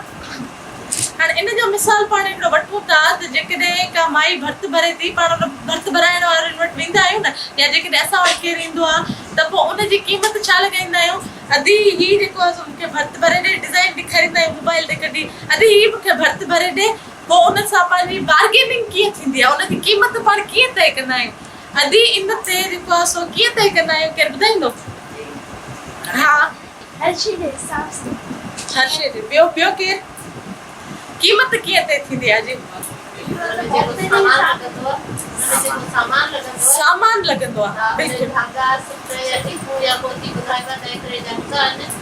هاڻ ان جو مثال پاڻ هڪڙو وٺون ٿا ته جيڪڏهن ڪا مائي ڀرت ڀري ٿي پاڻ ان ڀرت ڀرائڻ وارن وٽ ويندا آهيون نه يا جيڪڏهن اسان وٽ ڪير ايندو آ ته پوء ان جي قيمت ڇا لڳائيندا آهيون ادي هي جيڪو آ سو مون کي ڀرت ڀري ڏي ڊزائين ڏيکاريندا آهيون موبائل تي ڪڍي ادي هي مون کي ڀرت ڀري ڏي پوء انهن سان پنهنجي بارگيننگ ڪيئن ٿيندي آهي؟ ان جي قيمت پاڻ ڪيئن طئي ڪندا آهيون؟ ادي ان تي جيڪو آهي سو ڪيئن طئي ڪندا آهيون؟ ڪير ٻڌائيندو؟ ها. هر شيء جي حساب سان. هر شيء جي. ٻيو ٻيو ڪير؟ قيمت ڪيئن طئي ٿيندي آهي جي؟ سامان لڳندو آهي.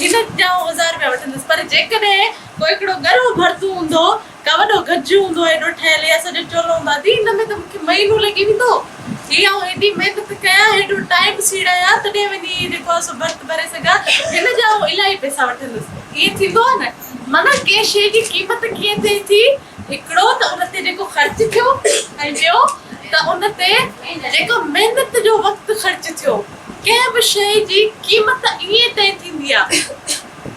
هن ڄائو هزار رپيا وٺندس پر جيڪڏهن ڪو هڪڙو ڳرو ڀرتون هوندو ڪا وڏو گجيون هوندو هيڏو ٺهيل يا سڄو چولو هوندو ادي ان ۾ ته مون کي مهينو لڳي ويندو هي آئون هيڏي محنت ڪيان هيڏو ٽائيم سيڙايان تڏهن وڃي هي جيڪو آهي سو ڀرت ڀري سگهان هن جا آئون الاهي پئسا وٺندس ائين ٿيندو آهي نه معنيٰ ڪنهن شيء جي قيمت ڪيئن ٿئي ٿي هڪڙو ته ان تي جيڪو خرچ ٿيو ۽ ٻيو ته ان تي جيڪو محنت جو وقت خرچ ٿيو ڪنهن به شيء جي قيمت ائين طئي ٿيندي آهي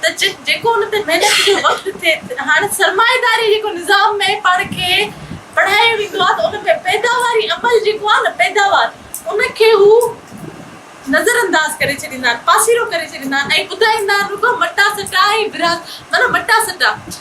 ته جيڪو ان تي محنت جو وقت ٿئي هاڻي سرمائيداري جيڪو نظام ۾ پاڻ کي پڙهايو ويندو آهي ته ان ۾ پيداواري عمل جيڪو آهي نه پيداوار ان کي هو نظر انداز ڪري ڇڏيندا آهن پاسيرو ڪري ڇڏيندا آهن ۽ ٻڌائيندا آهن رڳو مٽا سٽا ۽ ورهاڱا مانا مٽا سٽا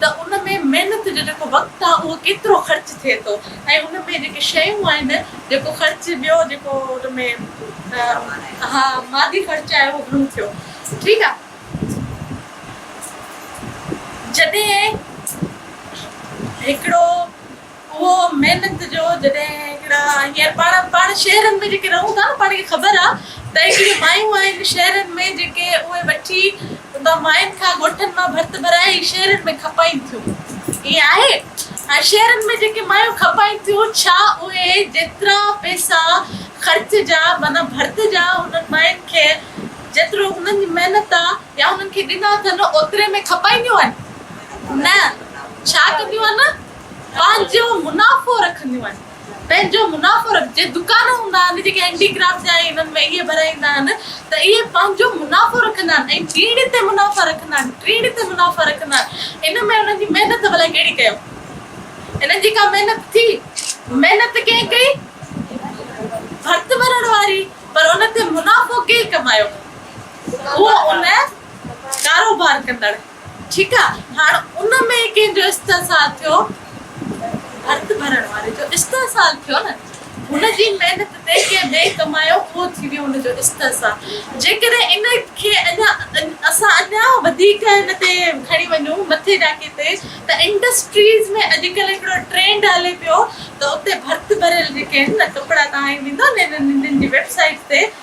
ته ان ۾ محنت جو جيڪو وقت آهي اهو ڪيترو خرچ ٿئي ٿو ۽ ان ۾ جيڪي شيون آهن جيڪو خرچ ٻيو جيڪو ان ۾ ها مادي خرچ آهي اهو گهڻو ٿيو ٺيڪ آهي جڏهن هڪڙو اهو محنت جو جڏهن هڪڙا هينئر پاڻ پاڻ شهرن ۾ جيڪي رهون ٿا نه پاڻ کي خبر آ ته هڪڙي مايون آهن شهرن ۾ جيڪي اهي وٺي اتان ماين کان ڳوٺن مان ڀرت ڀرائي هي شهرن ۾ کپائين ٿيون ائين آهي هاڻي شهرن ۾ جيڪي مايون کپائين ٿيون ڇا اهي جيترا پئسا خرچ جا معنيٰ ڀرت جا انهن ماين کي جيترو انهن جي محنت آ يا انهن کي ڏنا اٿن اوتري ۾ کپائينديون آهن نه ڇا ڪنديون آهن پنهنجو منافعو رکنديون آهن پنهنجو منافعو رک جي دڪان هوندا آهن جيڪي هينڊي ڪرافٽ جا ۽ انهن ۾ اهي ڀرائيندا آهن ته اهي پنهنجو منافعو رکندا آهن ۽ ٽيڻي تي منافعا رکندا آهن ٽيڻي تي منافعا رکندا آهن ان ۾ انهن جي محنت ڀلا ڪهڙي ڪيو انهن جي ڪا محنت ٿي محنت ڪنهن ڪئي ڀرت ڀرڻ واري پر ان تي منافعو ڪنهن ڪمايو هو ان ڪاروبار ڪندڙ ٺيڪ آ هاڻ ان ۾ ڪنهن جو استحصال ٿيو ڀرت ڀرڻ واري جو استحصال ٿيو نه هن جي محنت تي ڪنهن ٻئي ڪمايو اهو ٿي ويو هن جو استحصال جيڪڏهن ان کي اڃا اسان اڃا وڌيڪ ان تي کڻي وڃون مٿي ڏاڪي تي ته انڊسٽريز ۾ اڄڪلهه هڪڙو ٽرينڊ هلي پيو ته اتي ڀرت ڀريل جيڪي آهن نه ڪپڙا تهائي ويندو نه انهن جي ويب سائيٽ تي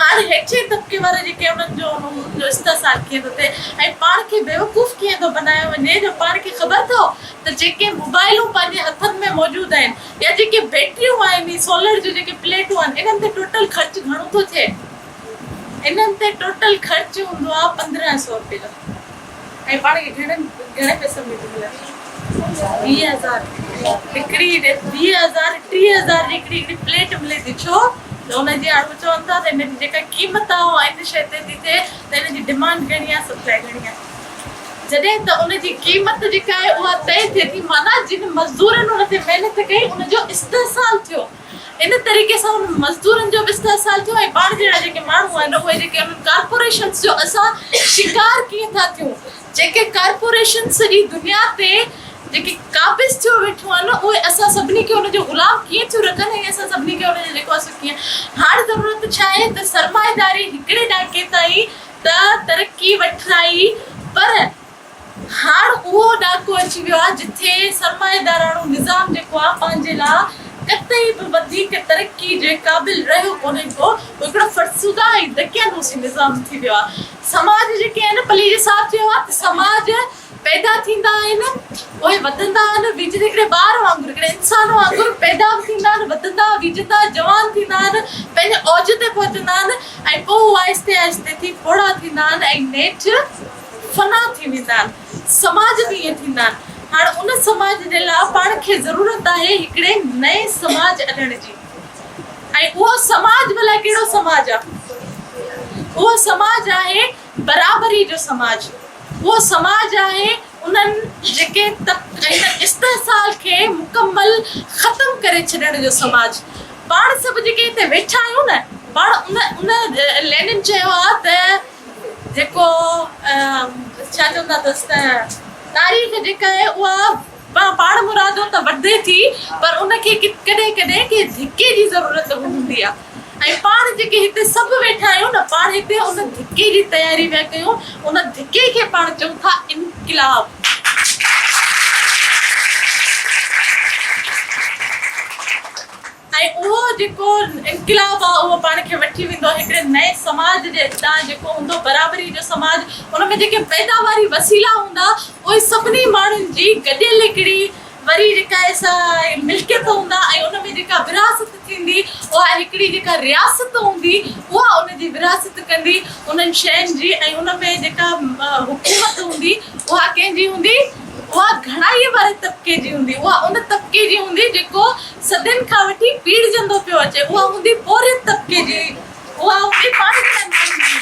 هاڻي هيٺئين طبقي وارا جيڪي انهن جو انهن جو استحصال ڪيئن ٿو ٿئي ۽ پاڻ کي بيوقوف ڪيئن ٿو بنايو وڃي جو پاڻ کي خبر اٿئو ته جيڪي موبائلون پنهنجي هٿن ۾ موجود آهن يا جيڪي بيٽريون آهن هي سولر جون جيڪي پليٽون آهن انهن تي ٽوٽل خرچ گهڻو ٿو ٿئي انهن تي ٽوٽل خرچ هوندو آهي پندرهن سئو رپيا ۽ پاڻ کي گهڻن گهڻن پئسن ۾ ٿي ملندي ويهه هزار هڪڙي ويهه هزار ٽيهه هزار جي هڪڙي هڪڙي پليٽ ملي ٿي ڇو ته ان جي آڙو چون ٿا ته ان جي جيڪا قيمت آهي اها ان شيء تي ٿي ٿئي ته ان جي ڊمانڊ گهڻي آهي سپلاء گهڻي آهي جڏهن ته ان جي قيمت جيڪا آهي اها طئي ٿئي ٿي معنيٰ جن مزدورن ان تي محنت ڪئي ان جو استحصال ٿيو ان طريقي سان انهن مزدورن جو به استحصال ٿيو ۽ پاڻ جهڙا جيڪي ماڻهو آهن اهي جيڪي انهن ڪارپوريشنز جو اسان شڪار ڪيئن ٿا ٿيون جيڪي ڪارپوريشنز سڄي دنيا تي جيڪي قابض ٿيو ويٺيون آهن اهي اسان سڀني کي ان جو غلام ڪيئن ٿيون رکن ۽ اسان سڀني کي ان جو جيڪو آهي سو ڪيئن هاڻ ضرورت ڇا آهي ته سرمائيداري هڪڙي ڏاڪي تائين ته ترقي وٺرائي پر هاڻ اهو ڏاڪو اچي ويو آهي جتي سرمائيداراڻو نظام جيڪو آهي پنهنجي لاء قطعي به وڌيڪ ترقي جي قابل رهيو ڪونهي ڪو هو هڪڙو فرسوده ۽ دقيانوسي نظام ٿي ويو آهي سماج جيڪي آهن پلي جي صاحب چيو آهي ته سماج پيدا ٿيندا آهن پوء وڌندا آهن ويجهن هڪڙي ٻار وانگر هڪڙي انسان وانگر پيدا به ٿيندا آهن وڌندا ويجهندا جوان ٿيندا آهن پنهنجي اوج تي پهچندا آهن ۽ پوء آهستي آهستي ٿي پوڙها ٿيندا آهن ۽ نيٺ فنا ٿي ويندا آهن سماج به ائين ٿيندا آهن هاڻ ان سماج جي لاء پاڻ کي ضرورت آهي هڪڙي نئين سماج اڏڻ جي ۽ اهو سماج ڀلا ڪهڙو سماج آ اهو سماج آهي برابري جو سماج اهو سماج آهي انهن جيڪي استحصال کي مڪمل ختم ڪري ڇڏڻ جو سماج پاڻ سڀ جيڪي هتي ويٺا آهيون نه پاڻ ان ان لينن چيو آ ته جيڪو ڇا چون ٿا تس ته تاريخ جيڪا آهي اها پاڻ مرادو ته وڌي ٿي پر ان کي ڪڏهن ڪڏهن ڪنهن ڌڪي جي ضرورت به هوندي آهي ۽ پاڻ جيڪي هتي سڀ ويٺا آهيون نه پاڻ هتي ان ڌڪي جي تياري پيا ڪيون ان ڌڪي کي پاڻ چئون ٿا انقلاب ۽ اهو جيڪو انقلاب آهي اهو پاڻ کي وٺي ويندو هڪڙي نئين سماج جي اڳتان جيڪو هوندو برابري جو سماج ان ۾ جيڪي پيداواري وسيلا هوندا اهي سڀني ماڻهن جي گڏيل هڪڙي وري جيڪا سا ملڪيت هوندا ۽ ان ۾ جيڪا ورهاست ٿيندي اها هڪڙي جيڪا رياست هوندي اها ان جي ورهاست ڪندي انهن شين جي ۽ ان ۾ جيڪا حڪومت هوندي اها ڪنهن جي هوندي اها گهڻائي واري طبقي جي هوندي اها ان طبقي جي هوندي جيڪو صدين کان وٺي پيڙهجندو پيو اچي، اها هوندي پورهيت طبقي جي، اها هوندي پاڻ جهڙن ماڻهن جي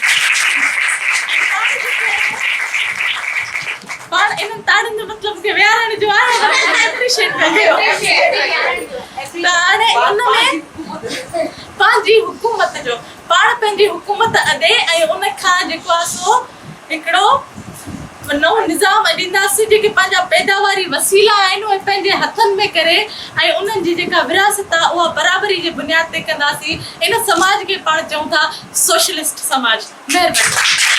۽ پاڻ جيڪي پاڻ انهن تاڙين جو مطلب کي ويهارڻ جو آهي ته ان کي اپريشيٽ ڪجي ته هاڻي ان ۾ پنهنجي حڪومت جو پاڻ پنهنجي حڪومت اڏي ۽ ان کان جيڪو آهي سو هڪڙو نئون نظام اڏينداسين جيڪي پنهنجا پيداواري وسيلا آهن اهي پنهنجي هٿن ۾ ڪري ۽ انهن جي جيڪا ورهاست آهي اها برابري جي بنياد تي ڪنداسين ان سماج کي پاڻ چئون ٿا سوشلسٽ سماج مهرباني.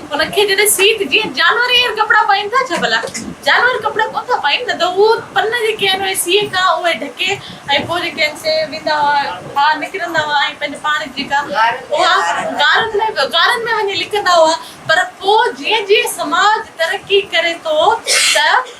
ان کي جڏهن سيت جيئن جانور ايئن ڪپڙا پائين ٿا ڇا ڀلا؟ جانور ڪپڙا ڪونه ٿا پائين نه ته هو پن جيڪي آهن اهي سيء کان اهي ڍڪي ۽ پوء جيڪي آهن سي ويندا هئا ها نڪرندا هئا ۽ پنهنجي پاڻ جي جيڪا اها غارن ۾ غارن ۾ وڃي لڪندا هئا پر پوء جيئن جيئن سماج ترقي ڪري ٿو ته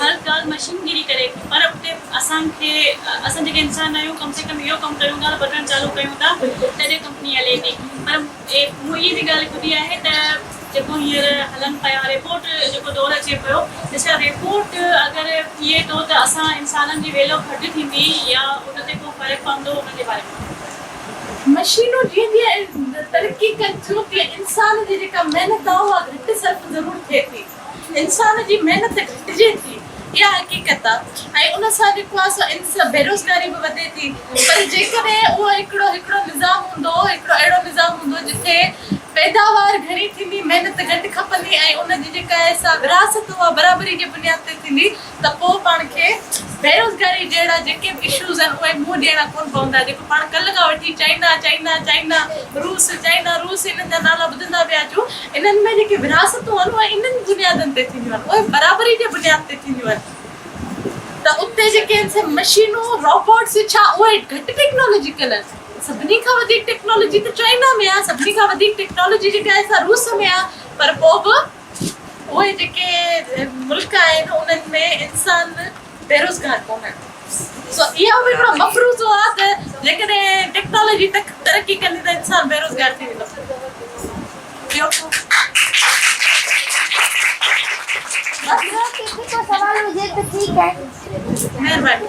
هر ڳالهه مشينگيري ڪري پر اتي اسان کي اسان جيڪي انسان آهيون ڪم سي ڪم اهو ڪم ڪريون ٿا ته بٽڻ چالو ڪيون ٿا تڏهن ڪمپني هلي ٿي پر مون اهي به ڳالهه ٻڌي آهي ته جيڪو هينئر هلن پيا ريبوٽ جيڪو دور اچي پيو ڏسا ريبوٽ اگر ٿئي ٿو ته اسان انسانن جي ويليو گهٽ ٿيندي يا ان تي ڪو فرق پوندو ان جي باري ۾ مشينون جيئن جيئن ترقي ڪن ٿيون تيئن انسان جي جيڪا محنت آهي اها گهٽ صرف ضرور ٿئي ٿي. انسان جي محنت گهٽجي ٿي اها حقيقت آ ۽ ان سان جيڪو آ سو بيروزگاري به وڌي ٿي پر جيڪڏهن اهو هڪڙو هڪڙو نظام هوندو هڪڙو اهڙو نظام هوندو جتي پيداوار گهڻي ٿيندي محنت گهٽ کپندي ۽ ان جي جيڪا آهي سا ورهاست اها برابري جي بنياد تي ٿيندي ته پوء پاڻ کي بيروزگاري جهڙا جيڪي به اشوز آهن اهي منهن ڏيڻا ڪونه پوندا جيڪو پاڻ ڪلهه کان وٺي چائنا چائنا چائنا روس چائنا روس انهن جا نالا ٻڌندا پيا اچون انهن ۾ جيڪي ورهاستون آهن اهي انهن بنيادن تي ٿينديون آهن اهي برابري جي بنياد تي ٿينديون آهن ته اتي جيڪي آهن سي مشينون روبوٽس ڇا اهي گهٽ ٽيڪنالاجيڪل آهن سڀني کان وڌيڪ ٽيڪنالاجي ته چائنا ۾ آهي سڀني کان وڌيڪ ٽيڪنالاجي جيڪا آهي سا روس ۾ آهي پر پوء به اهي جيڪي ملڪ آهن انهن ۾ انسان بيروزگار ڪونهن سو اهو به هڪڙو مفروضو آهي ته جيڪڏهن ٽيڪنالاجي ترقي ڪندي ته انسان بيروزگار ٿي ويندو مهرباني